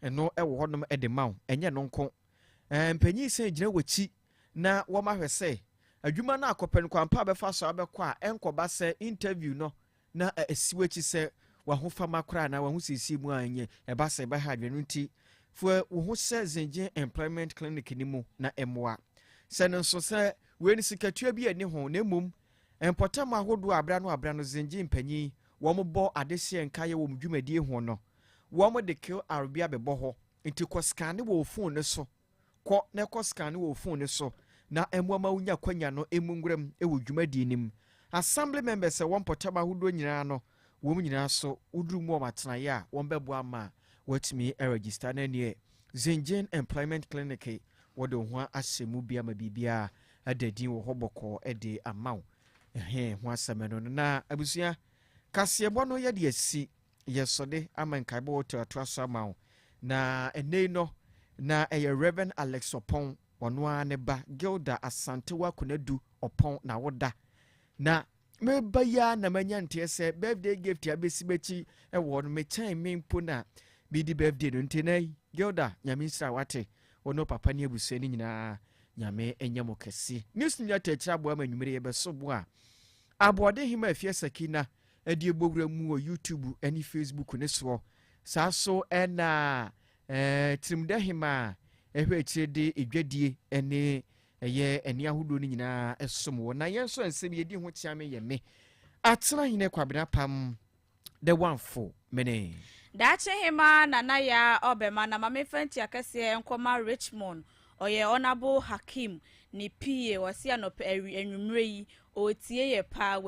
ɛno ɛwɔ hɔnom ɛde ma wo ɛnyɛ no nko Mpanyin san gyina w'akyi na wɔma hwɛ sɛ adwuma no akɔ pɛn kwan pa a bɛfa so abɛkɔ a ɛnkɔba sɛ interview no na asi w'akyi sɛ w'ahofama koraa anaa w'ahosiesie mu a ɛnyɛ ɛba sɛ ɛbɛha adwene no nti fa wo ho hyɛ Zengye Employment Clinic no mu na mmoa sɛ no nso sɛ wei no sikatua bi ani ho na mmom mpɔtam ahodoɔ a abera no abera no Zengye mpanyin wɔn bɔ adehyeɛ nkaeɛ wɔn dwumadie ho no wɔn de kill arobea bɛbɔ hɔ Nti kɔ scanne wɔ wo phone no so kɔ na kɔ scanne wɔ wo phone no so na ɛmmoa ma wonya kwanya no mu nwuram wɔ dwumadie no mu. Assembly members a ɛwɔ mpɔtam ahodoɔ nyinaa no wɔn nyinaa so woduru mu wɔn atenaeɛ a wɔn bɛboa ama woatumi aregister na ɛneɛ Zengin Employment Clinic wɔde wo ho ahyɛ mu bi ama biribiara ada din wɔ hɔ bɔkɔɔ de ama wo. Ɛhee ho asɛm ɛno no na abusua. Kaseɛbɔ no yɛde asi. Yɛ sɔde ama nkaebɔ wɔ toatoa so ama wo na ɛnɛ yi no na ɛyɛ Rev. Alex Ɔpɔn ɔno ara ne ba Gilda Asantewa Konadu Ɔpɔn na woda na meba yi ara na manya nteɛ sɛ birthday gift a bɛsi m'akyi wɔ no mekyɛn me mpo na medi birthday no nti na Gilda nyame nsira wate wo ne papa ne abusua no nyinaa nyame ɛnyɛ mo kɛse news nyɛ tɛkyerɛ aboa ma nwumere yɛbɛso boa aboɔden hema afie sakina ɛde rebɔ wura mu wɔ YouTube ne Facebook no soɔ. Saa ara so na Tirimdɛhemaa ɛhwɛ akyire de dwadie ne ɛyɛ nne ahodoɔ no nyinaa ɛsom wɔ. Na yɛn nso nsɛm yɛdi ho kyeame yɛ me, Atenahene Kwabena Apam, The One Fo Mene. Daakye Hemaa Nana Yaa Ɔbɛma na ma memfa ntuakɛseɛ nkɔma Richmond, ɔyɛ Honourable Hakeem ne PA, ɔse anɔpa awi anwummerɛ yi ɔretie yɛ paa,